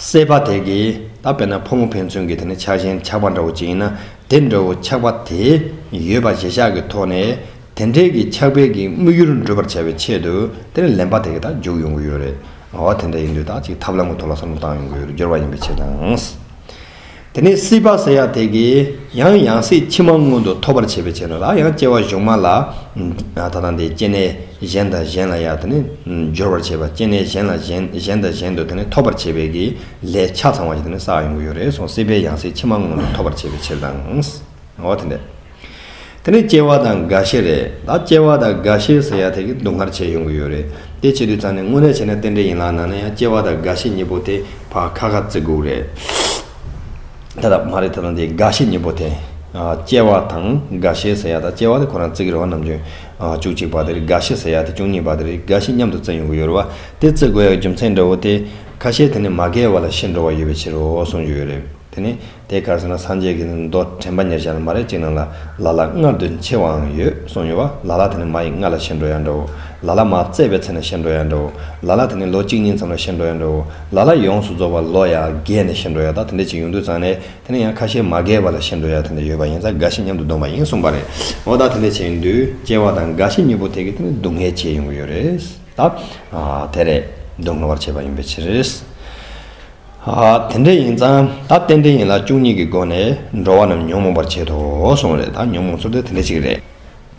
སྲེད་པ་དེ་གའི་ད་དཔེར་ན་ཕོ་མོ་ཕན་ཚུན་གྱི་དེ་ནི་ཆགས་ཞེན་ཆགས་པ་འདྲ་བོ་ཅིག་ཡིན་ན་དེ་འདྲ་བོ་ཆགས་པ་དེ་ཡོད་པ་གཞལ་བྱ་གི་ཐོག་ནས་དེ་འདྲའི་གི་ཕྱག་དཔེ་གི་དམིགས་ཡུལ་འགྲུབ་པར་བྱ་བའི་ཆེད་དུ་དེ་ལ་ལན་པ་དེ་གི་དག་འཇུག་ཡོང་གི་ཡོད་རེད་ང་བ་དེ་འདྲ་ཡིན་དུས་དག་ཅིག་ཐབས་ལམ་གི་ཐོག་ལ་བསམ་བློ་བཏང་ཡོང་གི་ཡོད་རེད་སྦྱོར་བ་ཡིན་པའི་ཕྱིར་དང། དེ་ནས་སྲིད་པ་ཟེར་ཡ་དེ་གི་ཡང་ཡང་སྲིད་ཕྱི་མ་སྔོན་དུ་ཐོབ་པར་བྱེད་པའི་ཆེད་དུ་ལ་ཡང་སྐྱེ་བ་གཞུག་མ་ལ་ད་དང་དེ་སྐྱེ་གནས་གཞན་དང་གཞན་ལ་ཡང་དེ་ནི་སྦྱོར་བར་བྱེད་པ་སྐྱེ་གནས་གཞན་ལ་གཞན་གཞན་དང་གཞན་དུ་དེ་ནི་ཐོབ་པར་བྱེད་པའི་གི་ལས་ཆ་ཚང་བ་ཞིག་དེ་ནི་བསགས་ཡོང་གི་ཡོད་རེད་སོང་སྲིད་པའི་ཡང་སྲིད་ཕྱི་མ་སྔོན་དུ་ཐོབ་པར་བྱེད་པའི་ཕྱིར་དང། ང་བ་དེ་འདྲ། དེ་ནི་སྐྱེ་བ་དང་རྒ་ཤི་རེད། ད་སྐྱེ་བ་དང་རྒ་ཤི་ཟེར་ཡ་དེ་གི་སྡུག་བསྔལ་བྱས་ཡོང་གི་ཡོད་རེད། དེ་བྱེད་དུས་ཙང་ནས་དངོས་གནས་བྱས་ན་རྟེན་འབྲེལ་ཡིན་ལགས་ནང་ན་ཡང་སྐྱེ་བ་དང་རྒ་ཤི་གཉིས་པོ་དེ་བར་ཁ་ཁ་བརྩི་དགོས་རེད། ད་ད་མ་རེད་ད་དང་དེ་རྒ་ཤི་གཉིས་པོ་དེ། སྐྱེ་བ་དང་རྒ་ཤི་ཟེར་ཡ་ད་སྐྱེ་བ་དེ་ཁོ་རང་བརྩི་གི་རེད་བ་ནམ་ཅུང་བཅུ་གཅིག་པ་དེ་རེད་རྒ་ཤི་ཟེར་ཡ་དེ་བཅུ་གཉིས་པ་དེ་རེད་རྒ་ཤི་མཉམ་དུ་བརྩི་ཡོང་གི་ཡོད་རེད་བ་དེ་བརྩི་དགོས་ཡ་གི་རྒྱུ་མཚན་འདྲ་བོ་དེ། ཁ་ཤས་དེ་ནི་མ་རྒས་བ་ལ་ཤི་འགྲོ་བ་ཡོད་པའི་ཕྱིར་རོ་གསུངས་ཀྱི་ཡོད་རེད། དེ་ནི། དེ་དགར་ཟིན་ན་སངས་རྒྱས་ཀྱི་མདོ་དྲན་པ་ཉེར་བཞག་ལ་མ་རེག་ཅིག་ན་ལ་ལ་ལ་མངལ་དུ་མཆེ་བའང་ཡོད་གསུངས་ཡོད་བ་ལ་ལ་དེ་ནི་མ་ཡི་མངལ་ལ་ཤི་འགྲོ་ཡང་འདྲའོ། ལ་ལ་མ་བཙས་པའི་ཚེ་ན་ཤི་འགྲོ་ཡང་འདྲའོ། ལ་ལ་དེ་ནི་ལོ་གཅིག་གཉིས་མཚམས་ལ་ཤི་འགྲོ་ཡང་འདྲའོ། ལ་ལ་ཡོངས་སུ་རྫོགས་པར་ལོ་ཡག་བརྒལ་ནས་ཤི་འགྲོ་ཡང་དག་དེ་འདྲའི་ཅིག་ཡོང་དུས་ཙང་ནས་དེ་ནི་ཡང་ཁ་ཤས་མ་བརྒལ་བ་ལ་ཤི་འགྲོ་ཡང་དེ་འདྲ་ཡོད་པ་ཡིན་ཙང་འགའ་ཞིག་མཉམ་དུ་བསྡོམས་པ་ཡིན་གསུངས་པ་རེད། འོ་ད་དེ་འདྲའི་ཅིག་ཡོང་དུས་སྐྱེ་བ་དང་འགའ་ཞིག་གཉིས་པོ་དེ་གིས་དེ་ནི་སྡུག་བསྔལ་བྱས་ཡོང་གི་ཡོད་རེད། ད། དེ་རེད། སྡུག་བསྔལ་བར་བྱས་པ་ཡིན་པའི་ཕྱིར། དེ་འདྲ་ཡིན་ཙང་ད་གཏན་འདྲེ་ཡིན་ལ་བཅུ་གཉིས་ཀྱི་སྒོ་ནས་འགྲོ་བ་རྣམས་ཉོན་མོངས་པར་བྱེད་དོ་གསུངས་རེད་ད་ཉོན་མོངས་ཚོ་དེ་འདྲ་ཞིག་རེད།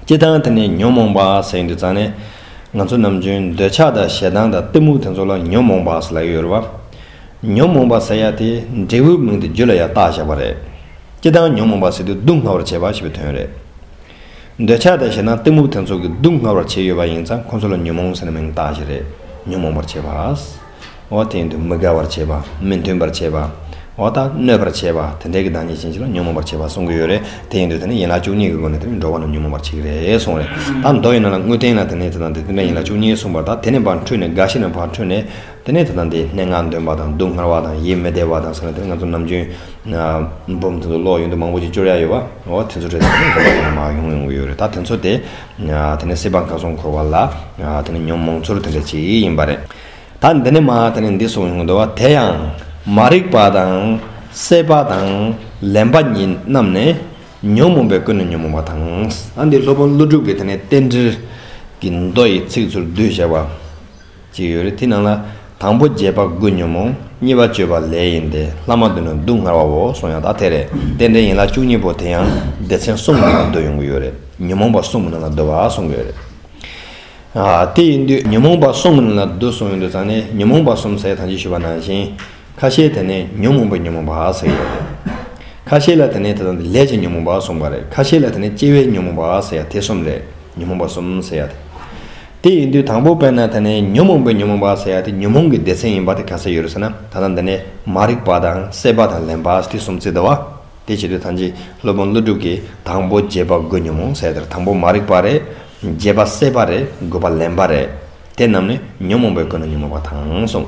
སྤྱི་བཏང་དེ་ནི་ཉོན་མོངས་པ་ཟེར་ཡིན་དུས་ཙང་ནས། ང་ཚོ་ནམ་རྒྱུན་འདོད་ཆགས་དང་ཞེ་སྡང་དང་གཏི་མུག་དེ་ཚོ་ལ་ཉོན་མོངས་པ་ཟེར་ལ་ཡོད་རེད་བ། ཉོན་མོངས་པ་ཟེར་ཡ་དེ་འབྲས་བུའི་མིང་དུ་རྒྱུད་ལ་ཡང་བཏགས་བཞག་པ་རེད། སྤྱི་བཏང་ཉོན་མོངས་པ་ཟེར་དུས་སྡུག་བསྔལ་བར་བྱེད་པ་ཞེས་པའི་དོན་རེད། འདོད་ཆགས་དང་ཞེ་སྡང་གཏི་མུག་དེ་ཚོ་གིས་སྡུག་བསྔལ་བར་བྱས་ཡོད་པ་ཡིན་ཙང་ཁོ་ཚོ་ལ་ཉོན་མོངས་ཟེར་ནས་མིང་བཏགས་བཞག་རེད་ཉོན་མོངས་པར་བྱེད་པ། འོ་སྟེང་དུ་མི་དགའ་བར་བྱེད་པ། མི་མཐུན་པར་བྱེད་པ། འོ་དང། གནོད་པར་བྱེད་པ། དེ་འདྲའི་གི་བདག་ཉིད་ཅན་ཅིག་ལ་ཉོན་མོངས་པར་བྱེད་པ་གསུང་གི་ཡོད་རེད། དེ་ཡིན་དུས་དེ་ནི་ཡན་ལག་བཅུ་གཉིས་ཀྱི་སྒོ་ནས་དེ་ནི་འགྲོ་བ་རྣམས་ཉོན་མོངས་པར་བྱེད་རེད་གསུང་རེད། ད་མདོ་ཡིན་ན་ལ་དངུལ་སྟེང་ན་དེ་ནི་དེ་དང་དེ་དེ་འདྲ་ཡན་ལག་བཅུ་གཉིས་གསུངས་པར་ད་དེ་ནི་བར་འཁྲུལ་ནས་འགའ་ཞིག་ནི་བར་འཁྲུལ་ནས། དེ་ནི་དེ་དང་དེའི་སྣེ་ལྔ་འདོན་པ་དང་སྡུག་བསྔལ་བ་དང་ཡིད་མི་བདེ་བ་དང་ཟེར་ན་དེ་ནི་ང་ཚོ་ནམ་རྒྱུན། འབུམ་ཐུང་དུ་ཀློག་ཡོང་དུས་མང་པོ་ཞིག་སྤྱོར་ཡ་ཡོད་པ། འོ་དེ་ཚོ་རེད་ད་དེ་ནི་འགྲོ་བ་དེ་འདྲ་མ་ཡོང་ཡོང་གི་ཡོད་རེད་ད་དེ་ཚོ་དེ། དེ་ནི་སྲིད་པ་འགགས་སོང་འཁོར་བ་ལ། དེ་ནི་ཉོན་མོངས་ཚོར་དེ་འདྲ་ཅིག་ཡིན་པ་རེད། ད་འདི་ནི་མ་དེ་ནི་འདི་སོགས་ཡོང་འདོད་བ་དེ་ཡང། མ་རིག་པ་དང། སྲེད་པ་དང། ལེན་པ་ཉིད་རྣམས་ནི། ཉོན་མོངས་པའི་ཀུན་ནས་ཉོན་མོངས་པ་དང། འདི་སློབ་དཔོན་ཀླུ་སྒྲུབ་ཀྱིས་དེ་ནི་རྟེན་འབྲེལ། གྱི་མདོ་ཡི་ཚིག་ཚུར་བསྡུས་བྱས་པ། ཅིག་ཡོད་རེད་དེ་ནང་ལ། དང་པོ་རྗེས་དཔག་དགུས་ཉོན་མོངས། གཉིས་པ་སྤྱོད་པ་ལས་ཡིན་ཏེ་ལྷག་མ་དུ་ནི་སྡུག་བསྔལ་བ་འོ་གསུངས་ཡང་དག་དེ་རེད་རྟེན་འབྲེལ་ཡན་ལག་བཅུ་གཉིས་པོ་དེ་ཡང་སྡེ་ཚན་གསུམ་གྱི་ནང་སྡོད་ཡོང་གི་ཡོད་རེད་ཉོན་མོངས་པ་གསུམ་གྱི་ནང་ལ་སྡོད་པ་གསུངས་ཡོད་རེད། དེ་ཡིན་དུས་ཉོན་མོངས་པ་གསུམ་གྱི་ནང་ལ་སྡོད་གསུངས་ཡོད་དུས་ཙང་ནི་ཉོན་མོངས་པ་གསུམ་ཟེར་ཐང་ཅིག་ཞུས་པ་ནང་བཞིན། ཁ་ཤས་དེ་ནི་ཉོན་མོངས་པའི་ཉོན་མོངས་པ་ཟེར་ཡོད་རེད། ཁ་ཤས་ལ་དེ་ནི་དེ་དང་དེ་ལས་ཀྱི་ཉོན་མོངས་པ་གསུངས་པ་རེད་ཁ་ཤས་ལ་དེ་ནི་སྐྱེ་བའི་ཉོན་མོངས་པ་ཟེར་ཡ་དེ་གསུམ་རེད། ཉོན་མོངས་པ་གསུམ་ཟེར་ཡ་དེ། དེ་ཡིན་དུས་དང་པོ་དཔེར་ན་ད་ནི་ཉོན་མོངས་པའི་ཉོན་མོངས་པ་ཟེར་ཡ་དེ་ཉོན་མོངས་ཀྱི་སྡེ་ཚན་ཡིན་པ་དེ་ག་ས་ཡོད་རེད་ཟེར་ན་ད་ལྟ་འདི་ནས་མ་རིག་པ་དང་སྲེད་པ་དང་ལེན་པ་དེ་གསུམ་བརྩི་ད་བ། དེ་བྱེད་དུས་ཐམས་ཅད་སློབ་དཔོན་ཀླུ་སྒྲུབ་ཀྱིས་དང་པོ་བརྒྱད་པ་དགུ་ཉོན་མོངས་ཟེར་དེར་དང་པོ་མ་རིག་པ་རེད། བརྒྱད་པ་སྲེད་པ་རེད་དགུ་པ་ལེན་པ་རེད། དེ་རྣམས་ནི་ཉོན་མོངས་པའི་སྒོ་ནས་ཉོན་མོངས་པ་དང་གསུངས།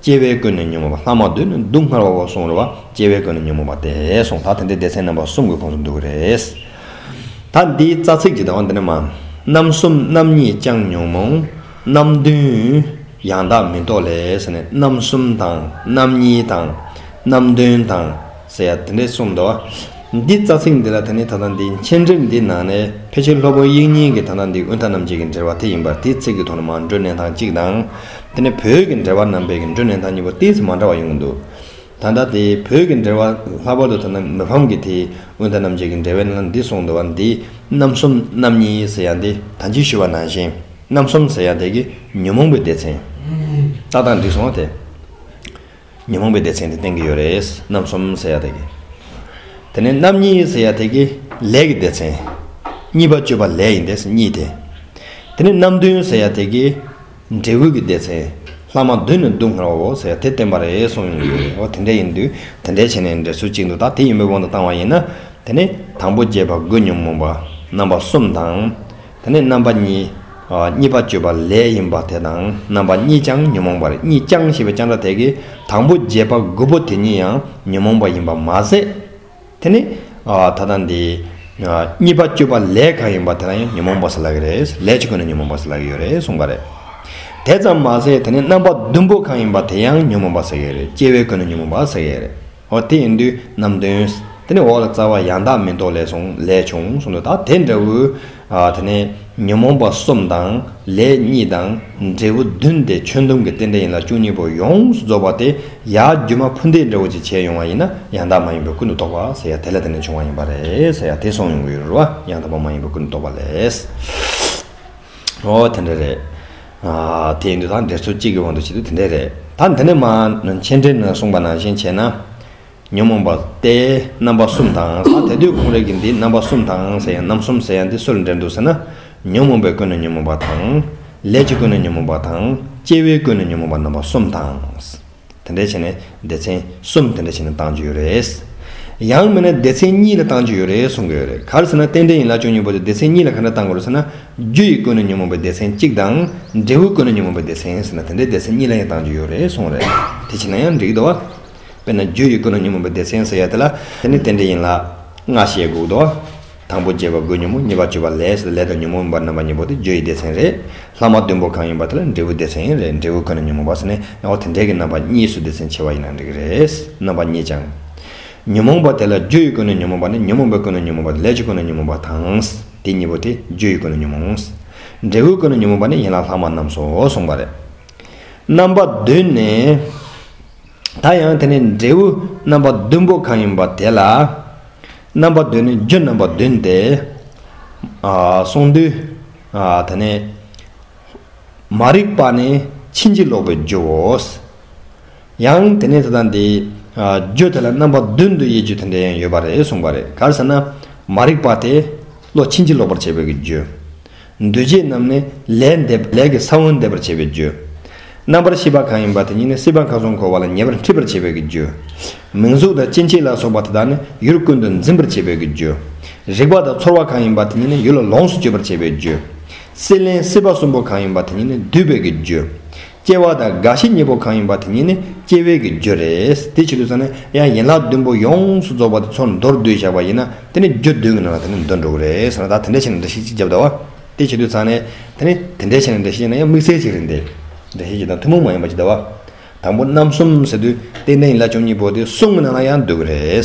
སྐྱེ་བའི་ཀུན་ནས་ཉོན་མོངས་པ་ལྷག་མ་འདོད་ནས་སྡུག་བསྔལ་བ་བོར་སོང་རེད་བ་སྐྱེ་བའི་ཀུན་ནས་ཉོན་མོངས་པ་དེས་སོང་ད་དེ་འདྲའི་སྡེ་ཚན་རྣམ་པ་གསུམ་གྱི་ཁོངས་སུ་འདུ་གི་རེད། ད་འདིའི་རྩ་ཚིག་ཅིག་དང་འདི་ནི་མ། རྣམ་གསུམ་རྣམ་གཉིས་བསྐྱང་ཉོན་མོངས་རྣམ་བདུན། ཡང་དག་མི་རྟོག་ལས་ཟེར་ནས་རྣམ་གསུམ་དང་རྣམ་གཉིས་དང། རྣམ་བདུན་དང། ཟེར་ཡ་དེ་འདྲས་གསུངས་འདུག་འདི་རྩ་ཚིག་འདི་ལ་དེ་ནི་ད་ལྟ་འདི་མཆན་འགྲེམས་འདི་ནང་ནས་ཕལ་ཆེར་ལྷོ་བོད་དབྱིན་གཉིས་ཀྱི་ད་ལྟ་འདི་དབུས་མཐའ་རྣམ་འབྱེད་ཀྱི་འབྲེལ་བ་དེ་ཡིན་པར་དེའི་ཚིག་གི་ཐོག་ནས་མར་འགྲོས་གནས་སྟངས་གཅིག་དང། དེ་ནས་བོད་ཀྱི་འབྲེལ་བ་རྣམ་པའི་ཀྱི་འགྲོས་གནས་སྟངས་གཉིས་པོ་དེའི་ཚེ་མ་འདྲ་བ་ཡོང་གི་འདུག་ད་ལྟ་དེ་བོད་ཀྱི་འབྲེལ་བ་ལྷག་པར་དུ་ད་ལྟ་མི་ཕམ་གྱི་དེའི་དབུས་མཐའ་རྣམ་འབྱེད་ཀྱི་འབྲེལ་བའི་ནང་ལ་འདི་གསུངས་འདུག་འདི་རྣམ་གསུམ་རྣམ་གཉིས་ཟེར་ཡ་འདི་ད་འཇིགས་ཞུ་བ་ནང་བཞིན་རྣམ་གསུམ་ཟེར་ཡ་དེ་གི་ཉོན་མོངས་པའི་སྡེ་ཚན། རྟགས་དང་འགྲིགས་སོང་དེ། ཉོན་མོངས་པའི་སྡེ་ཚན་དེ་སྟེང་གི་ཡོད་རེད། རྣམ་གསུམ་ཟེར་ཡག་དེ་གི། དེ་ནས་རྣམ་གཉིས་ཟེར་ཡག་དེ་གི་ལས་ཀྱི་སྡེ་ཚན། གཉིས་པ་སྤྱོད་པ་ལས་ཡིན་དེས་གཉིས་དེ། དེ་ནས་རྣམ་བདུན་ཟེར་ཡག་དེ་གི། འབྲས་བུ་གི་སྡེ་ཚན། ལྷག་མ་བདུན་ནི་སྡུག་བསྔལ་བའོ་ཟེར་ཡག་དེ་བསྟན་པ་རེད་གསུངས་ཡོད་རེད། འོ་དེ་འདྲ་ཡིན་དུས་དེ་འདྲའི་བྱེད་ནས་འབྲས་ཚུལ་གཅིག་འདུག་ད་དེ་ཡིན་པའི་དབང་དུ་བཏང་བ་ཡིན་ན། དེ་ནས་དང་པོ་བརྒྱད་པ་དགུ་ཉོན་མོངས་པ་རྣམ་པ་གསུམ་དང། ད་ནི་རྣམ་པ་གཉིས། གཉིས་པ་སྤྱོད་པ་ལས་ཡིན་པ་དེ་དང་རྣམ་པ་གཉིས་ཀྱང་ཉོན་མོངས་པར་གཉིས་ཀྱང་ཞེས་པའི་ཀྱང་སྒྲ་དེ་གའི་དང་པོ་བརྒྱད་པ་དགུ་པོ་དེ་གཉིས་ཡང་ཉོན་མོངས་པ་ཡིན་པར་མ་ཟད། དེ་ནི། ད་ལྟ་འདི། གཉིས་པ་སྤྱོད་པ་ལས་གང་ཡིན་པ་དེ་དག་ཡང་ཉོན་མོངས་པ་ཟེར་ལགས་ཀྱི་རེད། ལས་ཀྱི་སྒོ་ནས་ཉོན་མོངས་པ་ཟེར་ལགས་ཀྱི་ཡོད་རེད་གསུངས་པ་རེད། དེ་ཙམ་མ་ཟད་དེ་ནི་རྣམ་པ་བདུན་པོ་གང་ཡིན་པ་དེ་ཡང་ཉོན་མོངས་པ་ཟེར་ཡོད་རེད་སྐྱེ་བའི་སྒོ་ནས་ཉོན་མོངས་པ་ཟེར་ཡོད་རེད། ཨོ་དེ་ཡིན་དུས་ནམ་འདོན། དེ་ནས་འོག་ལ་རྩ་བ་ཡང་དག་མིན་རྟོག་ལས་སོང་ལས་བྱུང་གསུངས་འདུག་ད་དེ་འདྲ་བུ། དེ་ནས་ཉོན་མོངས་པ་གསུམ་དང་ལས་གཉིས་དང་འབྲས་བུ་བདུན་ཏེ་ཆོས་སྡོམ་གྱི་རྟེན་འབྲེལ་ཡིན་ལ་བཅུ་གཉིས་པོ་ཡོངས་སུ་རྫོགས་པ་སྟེ་ཡར་རྒྱུ་མ་ཕུ་འདེད་འདྲ་བོ་ཅིག་བྱས་ཡོང་བ་ཡིན་ན་ཡང་དག་མ་ཡིན་པའི་ཀུན་ཏུ་རྟོག་པ་ཟེར་ཡ་དེ་ལ་དེ་ནས་བྱུང་བ་ཡིན་པ་རེད་ཟེར་ཡ་དེ་སོང་ཡོང་གི་ཡོད་རེད་བ་ཡང་དག་པ་མ་ཡིན་པའི་ཀུན་ཏུ་རྟོག་པ་ལས། ཨོ་དེ་འདྲ་རེད། དེ་འདི་དང་དེ་ཚོ་གཅིག་གི་དབང་དུ་བྱེད་དུ་དེ་འདྲས་རེད། ད་འདི་ནས་མ་མཆན་འབྲི་ན་གསུངས་པ་ནང་བཞིན་བྱས་ན། ཉོན་མོངས་པ་སྟེ་རྣམ་པ་གསུམ་དང་ཟ་དེ་དུས་གུང་རེག་གི་འདི་རྣམ་པ་གསུམ་དང་ཟེར་ཡང་རྣམ་གསུམ་ཟེར་ཡང་འདི་སུ་ལ་འབྲེལ་འདུག་ཟེར་ན། ཉོན་མོངས་པའི་ཀུན་ནས་ཉོན་མོངས་པ་དང། ལས་ཀྱི་ཀུན་ནས་ཉོན་མོངས་པ་དང། སྐྱེ་བོའི་ཀུན་ནས་ཉོན་མོངས་པ་རྣམ་པ་གསུམ་དང། དེ་འདྲ་བྱས་ནས་སྡེ་ཚན་གསུམ་དེ་འདྲ་བྱས་ནས་བཏང་རྒྱུ་ཡོད་རེད། ཡང་མིན་ན་སྡེ་ཚན་གཉིས་ལ་བཏང་རྒྱུ་ཡོད་རེད་གསུང་གི་ཡོད་རེད་ག་རེ་ཟེར་ན་རྟེན་འབྲེལ་ཡིན་ལ་ཅུང་སྙན་པོ་དེ་སྡེ་ཚན་གཉིས་ལ་ག་འདྲ་བཏང་དགོས་རེད་ཟེར་ན། རྒྱུ་ཡི་ཀུན་ནས་ཉོན་མོངས་པའི་སྡེ་ཚན་གཅིག་དང། འབྲས་བུའི་ཀུན་ནས་ཉོན་མོངས་པའི་སྡེ་ཚན་ཟེར་ན་དེ་འདྲའི་སྡེ་ཚན་གཉིས་ལ་ཡང་བཏང་རྒྱུ་ཡོད་རེད་གསུང་རེད། དེ་བྱས་ན་ཡང་འགྲིག་འདུག། དཔེར་ན་རྒྱུ་ཡི་ཀུན་ནས་ཉོན་མོངས་པའི་སྡེ་ཚན་ཟེར་ཡ་དེ་ལ། དེ་ནི་རྟེན་འབྲེལ་ཡིན་ལ། སྔར་བཤད་དགོས་འདུག། དང་པོ་བརྒྱད་པ་དགུ་ཉོན་མོངས་གཉིས་པ་བཅུ་པ་ལས་སུ་ལས་དང་ཉོན་མོངས་མིན་པར་རྣམ་པ་གཉིས་པོ་དེ་རྒྱུ་ཡི་སྡེ་ཚན་རེད། ལྷག་མ་བདུན་པོ་གང་ཡིན་པ་དེ་ལ་འབྲས་བུ་སྡེ་ཚན་ཡང་རེད་འབྲས་བུ་ཁོ་ན་ཉོན་མོངས་པ་སོགས་ནི་རྣམ་པ་དེ་འདྲས་ཀྱི་རྣམ་པ་གཉིས་སུ་སྡེ་ཚན་ཕྱེ་བ་ཡིན་ན་འགྲིག་གི་རེད། རྣམ་པ་གཉིས་ཀྱང། ཉོན་མོངས་པ་དེ་ལ་རྒྱུ་ཡི་ཀུན་ནས་ཉོན་མོངས་པ་ནི་ཉོན་མོངས་པའི་ཀུན་ནས་ཉོན་མོངས་པ་ལས་ཀྱི་ཀུན་ནས་ཉོན་མོངས་པ་དང། དེ་གཉིས་པོ་དེ་རྒྱུ་ཡི་ཀུན་ནས་ཉོན་མོངས། འབྲས་བུའི་ཀུན་ནས་ཉོན་མོངས་པ་ནི་ཡན་ལག་ལྷག་མ་རྣམས་སོ་གསུངས་པ་རེད། རྣམ་པ་བདུན་ནི། ད་ཡང་དེ་ནི་འབྲས་བུ་རྣམ་པ་བདུན་པོ་གང་ཡིན་པ་དེ་ལ། རྣམ་པ་བདུན་ནི་རྒྱུ་རྣམ་པ་བདུན་ཏེ། གསུང་འདུས། དེ་ནས། མ་རིག་པ་ནི་ཕྱིན་ཅི་ལོག་པའི་རྒྱུའོ། ཡང་དེ་ནས་དེ་དང་དེའི། རྒྱུ་དེ་ལ་རྣམ་པ་བདུན་དུ་དབྱེ་རྒྱུ་དེ་འདྲ་ཡང་ཡོད་པ་རེད་གསུངས་པ་རེད་ག་ཟེར་ན། མ་རིག་པ་དེ། བློ་ཕྱིན་ཅི་ལོག་པར་བྱེད་པའི་རྒྱུ། འདུས་བྱས་རྣམས་ནི་ལས་འདས་པ་ལས་ཀྱི་ས་བོན་འདས་པར་བྱེད་པའི་རྒྱུ། རྣམ་པར་ཤེས་པ་གང་ཡིན་པ་དེ་ཉིད་ནི་སྲིད་པ་གང་གཟུགས་འཁོར་བ་ལ་ཉེ་བར་འཁྲིད་པར་བྱེད་པའི་རྒྱུ། མིང་གཟུགས་དང་སྐྱེ་མཆེད་ལ་སོགས་པ་དེ་དག་ནི་ཡུལ་ཀུན་ཏུ་འཛིན་པར་བྱེད་པའི་རྒྱུ། རིག་པ་དང་ཚོར་བ་གང་ཡིན་པ་དེ་ཉིད་ནི་ཡུལ་ལ་ལོངས་སུ་སྤྱོད་པར་བྱེད་པའི་རྒྱུ། སྲིད་ལེན་སྲིད་པ་གསུམ་པོ་གང་ཡིན་པ་དེ་ཉིད་ནི་འདུས་པའི་རྒྱུ། སྐྱེ་བ་དང་རྒ་ཤི་གཉིས་པོ་གང་ཡིན་པ་དེ་གཉིས་ནི་སྐྱེ་བའི་གི་རྒྱུ་རེད། དེའི་ཕྱིར་དུ་ཚང་ནི་ཡང་ཡན་ལག་བདུན་པོ་ཡོངས་སུ་རྫོགས་པ་དེ་ཚོར་མདོར་བསྡུས་བཞག་པ་ཡིན་ན་དེ་ནི་རྒྱུ་བདུན་གྱི་ནང་ལ་དེ་ནི་འདུ་འགྲོ་གི་རེད་ཟེར་ན་ད་དེ་འདྲའི་ཆེ་ནས་འདྲ་ཤེས་ཅིག་བརྒྱབ་དྭོ། དེའི་ཕྱིར་དུ་ཚང་ནི་དེ་ནི་དེ་འདྲའི་ཆེ་ནས་འདྲ་ཤེས་ཡིན་ན་ཡང་དམིགས་བསལ་ཅིག་རེད་འདི། འདྲ་ཤེས་ཅིག་དང་ཐུན་མོང་མ་ཡིན་པ་ཅིག་དྭོ། དང་པོ་རྣམ་གསུམ་ཟེར་དུས་སྟེ་གནས་ཡིན་ལ་བཅོ་གཉིས་པོ་དེ་གསུམ་གྱི་ནང་ལ་ཡང་འདུ་གི་རེད།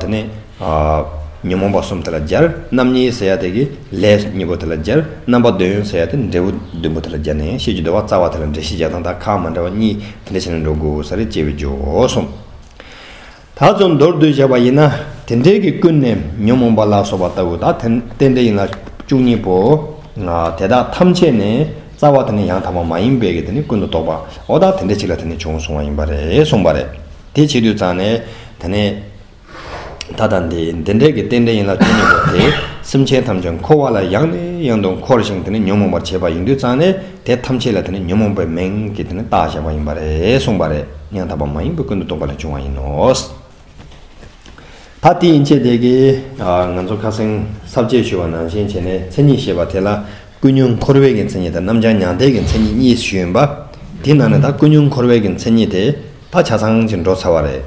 དེ་ནས་ཉོན་མོངས་པ་གསུམ་དེ་ལ་སྦྱར། རྣམ་གཉིས་ཟེར་ཡ་དེ་གི་ལས་གཉིས་པོ་དེ་ལ་སྦྱར། རྣམ་པ་འདོད་ཡོན་ཟེར་ཡ་དེ་འབྲས་བུ་བདུན་པོ་དེ་ལ་སྦྱར་ནས་ཤེས་ཀྱི་འདོད་བ་རྩ་བ་དེ་ལ་འབྲས་ཤེས་བྱ་དང་དག་ཁ་མ་འདྲ་བ་གཉིས་དེ་འདྲ་བྱས་ནས་འགྲོ་དགོས་ས་རེད་ཅེས་པའི་འགྱོ་གསུམ་ད་ཚོ་མདོར་བསྡུས་བྱས་པ་ཡིན་ན་དེ་འབྲས་ཀྱི་ཀུན་ནས་ཉོན་མོངས་པ་ལ་སོགས་པ་ལྟ་བུ་དག་དེ་རྟེན་འབྲེལ་ཡིན་ལ་བཅུ་གཉིས་པོ་དེ་དག་ཐམས་ཅད་ནས་རྩ་བ་དེ་ནས་ཡང་དག་པ་མ་ཡིན་པའི་གི་དེ་ནི་ཀུན་ཏུ་རྟོག་པའོ་དག་དེ་འདྲ་ཅིག་ལ་དེ་ནས་བྱུང་སོང་བ་ཡིན་པ་རེད་གསུངས་པ་རེད། དེ་བྱེད་དུས་ཙང་ནས་ད་ནི། ད་དང་འདི་འདི་འདྲའི་གི་རྟེན་འབྲེལ་ཡིན་ལ་དོན་ཡིན་པ་དེ་སེམས་ཅན་ཐམས་ཅད་འཁོར་བ་ལ་ཡང་ནས་ཡང་དུ་འཁོར་ཞིང་དེ་ནི་ཉོན་མོངས་པར་བྱེད་པ་ཡིན་དུས་ཙང་ནས་དེ་ཐམས་ཅད་ལ་དེ་ནི་ཉོན་མོངས་པའི་མིང་གིས་དེ་ནི་བཏགས་བཞག་པ་ཡིན་པ་རེད་གསུངས་པ་རེད་སྙིང་ཐག་པ་མ་ཡིན་པའི་ཀུན་ཏུ་རྟོག་པ་ལས་བྱུང་བ་ཡིན་ནོ། ད་དེ་ཡིན་ཕྱིར་དེ་གི། ང་ཚོ་ཁ་སེང་ས་བཅད་ཞུ་བ་ནང་བཞིན་བྱས་ནས་མཚན་ཉིད་ཞེས་པ་དེ་ལ་ཀུན་ཉོན་འཁོར་བས་ཀྱི་མཚན་ཉིད་དང་རྣམ་བྱང་མྱང་འདས་ཀྱི་མཚན་ཉིད་གཉིས་སུ་ཞུས་ཡོད་པ། དེའི་ནང་ནས་ད་ཀུན་ཉོན་འཁོར་བས་ཀྱི་མཚན་ཉིད་དེ་ད་ཆ་ཚང་ཞིང་འགྲོ་ཚར་བ་རེད།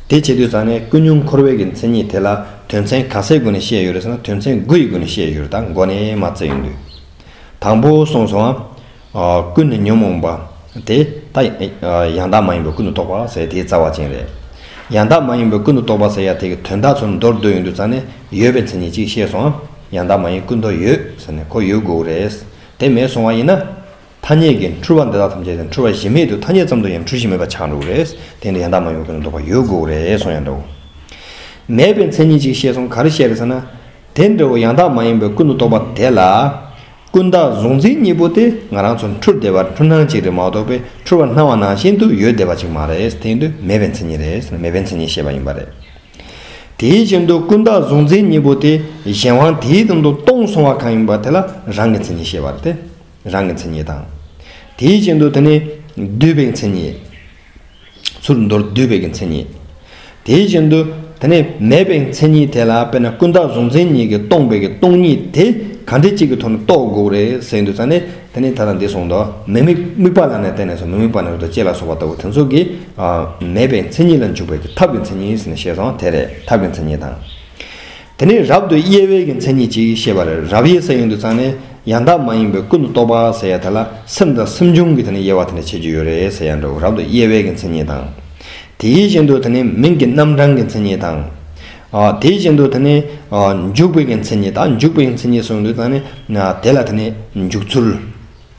དེ་བྱེད་དུས་ཚང་ནས་ཀུན་སྙུང་འཁོར་བའི་གི་མཚན་ཉིད་དེ་ལ་དོན་ཚན་ག་ཚད་སྒོ་ནས་བཤད་ཡོད་རེད་ཟེར་ན་དོན་ཚན་དགུ་ཡི་སྒོ་ནས་བཤད་ཡོད་རེད་ད་མགོ་ནས་མ་བརྩད་ཡོང་དུས། དང་པོ་གསུངས་སོང་ཨ། ཀུན་ནས་ཉོན་མོངས་པ། དེ་ད་ཡང་དག་མ་ཡིན་པའི་ཀུན་ཏུ་རྟོག་པ་ཟེར་དེའི་རྩ་བ་ཅན་རེད། ཡང་དག་མ་ཡིན་པའི་ཀུན་ཏུ་རྟོག་པ་ཟེར་ཡ་དེ་གི་དོན་དག་ཚུལ་མདོར་བསྡུས་ཡོང་དུས་ཚང་ནས་ཡོད་པའི་མཚན་ཉིད་གཅིག་ཤེས་སོང་ཨ། ཡང་དག་མ་ཡིན་ཀུན་རྟོག་ཡོད་ཟེར་ནས་ཁོ་ཡོད་དགོས་རེད། དེ་མེད་སོང་བ་ཡིན་ན། ཐ་སྙད་ཀྱི་འཁྲུལ་བ་འདི་དག་ཐམས་ཅད་ཀྱང་འཁྲུལ་བ་གཞི་མེད་དུ་ཐ་སྙད་ཙམ་དུ་ཡང་འཁྲུལ་གཞི་མེད་པར་ཆགས་འགྲོ་གི་རེད། དེ་འདྲ་ཡང་དག་མ་ཡོང་གི་ལ་འདོད་པ་ཡོད་དགོས་ཀྱི་རེད་གསུངས་ཡང་འདྲའོ། མེད་པའི་མཚན་ཉིད་ཅིག་བཤད་སོང་ག་རེ་བཤད་རེད་ཟེར་ན། དེ་འདྲའོ་ཡང་དག་མ་ཡིན་པའི་ཀུན་ཏུ་རྟོག་པ་དེ་ལ། ཀུན་བཏགས་གཟུང་འཛིན་གཉིས་པོ་དེ་ང་རང་ཚོར་འཁྲུལ་བདེ་བ་འཁྲུལ་སྣང་ཅིག་རེད་མ་གཏོགས་པའི་འཁྲུལ་བ་སྣང་བ་ནང་བཞིན་དུ་ཡོད་བདེ་བ་ཅིག་མ་རེད་དེ་ཡིན་དུས་མེད་པའི་མཚན་ཉིད་རེད་ཟེར་ན་མེད་པའི་མཚན་ཉིད་བཤད་པ་ཡིན་པ་རེད། དེའི་བཞིན་དུ་ཀུན་བཏགས་གཟུང་འཛིན་གཉིས་པོ་དེ་གཞན་དབང་དེའི་སྟེང་དུ་སྟོང་སོང་བ་གང་ཡིན་པ་དེ་ལ་རང་གི་མཚན་ཉིད་བཤད་པ་རེད་དེ། རང་གི་མཚན་ཉིད་དང། དེའི་རྐྱེན་དུ་དེ་ནི་བསྡུས་པའི་མཚན་ཉིད། ཚུར་མདོར་བསྡུས་པའི་མཚན་ཉིད། དེའི་རྐྱེན་དུ་དེ་ནི་མེད་པའི་མཚན་ཉིད་དེ་ལ་དཔེར་ན་ཀུན་བརྟགས་གཟུང་འཛིན་གཉིས་ཀྱིས་སྟོང་པའི་སྟོང་ཉིད་དེ་གང་དེ་གཅིག་གི་ཐོག་ནས་རྟོགས་དགོས་རེད་ཟེར་གྱི་འདུག་ཙང་ནི་དེ་ནི་ད་དང་འདི་གསུངས་དོགས་མི་དམིགས་དམིགས་པ་ལ་ནི་བརྟེན་ནས་སོ་མི་དམིགས་པ་ནི་རེ་དོགས་སྐྱེ་ལ་སོགས་པ་ལྟ་བུ་དེ་ཚོ་གིས་མེད་པའི་མཚན་ཉིད་ལ་འཇུག་པའི་ཐབས་ཀྱི་མཚན་ཉིད་ཟེར་ནས་བཤད་སོང་དེ་རེད་ཐབས་ཀྱི་མཚན་ཉིད་དང། དེ་ནས་རབ་ཏུ་དབྱེ་བས་ཀྱི་མཚན་ཉིད་ཅིག་ཤེས་པ་ལས་རབ་དབྱེ་ས་ཡུན་དུ་ཚང་ནས་ཡང་དག་མ་ཡིན་པའི་ཀུན་ཏུ་རྟོག་པ་ཟེར་ཡ་དེ་ལ་སེམས་དང་སེམས་བྱུང་གི་དེ་ནས་དབྱེ་བ་དེ་ནས་བྱེད་རྒྱུ་ཡོད་རེད་ཟེར་ཡ་འདྲ་བོ་རབ་ཏུ་དབྱེ་བས་ཀྱི་མཚན་ཉིད་དང། དེའི་བཞིན་དུ་དེ་ནས་མིང་གི་རྣམ་གྲངས་ཀྱི་མཚན་ཉིད་དང། དེའི་བཞིན་དུ་དེ་ནས་འཇུག་པའི་ཀྱི་མཚན་ཉིད་དང་འཇུག་པའི་ཀྱི་མཚན་ཉིད་སོགས་ཡུན་དུ་ཚང་ནས་དེ་ལ་དེ་ནས་འཇུག་ཚུལ།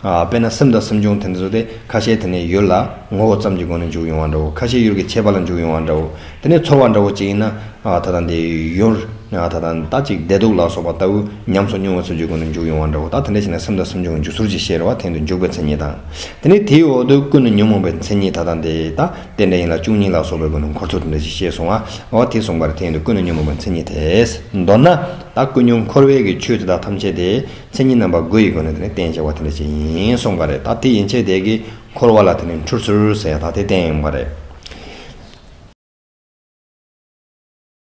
དཔེར་ན་སེམས་དང་སེམས་བྱུང་དེ་ཚོ་དེ་ཁ་ཤས་དེ་ནས་ཡུལ་ལ་ངོ་བོ་ཙམ་གྱི་སྒོ་ནས་འཇུག་ཡོང་བ་འདྲ་བོ་ཁ་ཤས་ཡུལ་གྱི་ཁྱད་པར་ལ་འཇུག་ཡོང་བ་འདྲ་བོ་དེ་ནས་ཚོར་བ་འདྲ་བོ་ཅིག་ཡིན་ན་ད་ལྟ་འདི་ཡུལ་ད་ལྟ་ད་ཅིག་བདེ་སྡུག་ལ་སོགས་པ་ལྟ་བུ་ཉམས་སོ་མྱོང་བ་ཚུལ་གྱི་སྒོ་ནས་འཇུག་ཡོང་བ་འདྲ་བོ་ད་དེ་འདྲ་ཞིག་ན་སེམས་དང་སེམས་བྱུང་གི་འཇུག་ཚུལ་གྱི་ཤེས་རབ་དེང་དུ་འཇུག་པའི་མཚན་ཉིད་དང། དེ་ནས་དེའི་འོག་ཏུ་ཀུན་ནས་ཉོན་མོངས་པའི་མཚན་ཉིད་ད་ལྟ་འདི་ད་དེ་འདྲ་ཡིན་ལ་བཅུ་གཉིས་ལ་སོགས་པའི་སྒོ་ནས་འཁོར་ཚོགས་དེ་འདྲ་ཞིག་ཤེས་སོང་ཨ་དེ་གསུངས་པར་དེང་དུ་ཀུན་ནས་ཉོན་མོངས་པའི་མཚན་ཉིད་དེས་མདོར་ན་ད་ཀུན་ཉོན་འཁོར་བས་ཀྱི་ཆོས་དེ་དག་ཐམས་ཅད་དེ། མཚན་ཉིད་རྣམ་པ་དགུ་ཡི་སྒོ་ནས་དེ་ནི་རྟེན་ཅེས་བ་དེ་འདྲ་ཅན་ཡིན་གསུངས་པ་རེད་ད་དེ་ཡིན་ཆད་དེ་གི་འཁོར་བ་ལ་དེ་ནི་འཁྲུལ་ཚུལ་ཟེར་ཡང་ད་དེ་རྟེན་ཡིན་པ་རེད།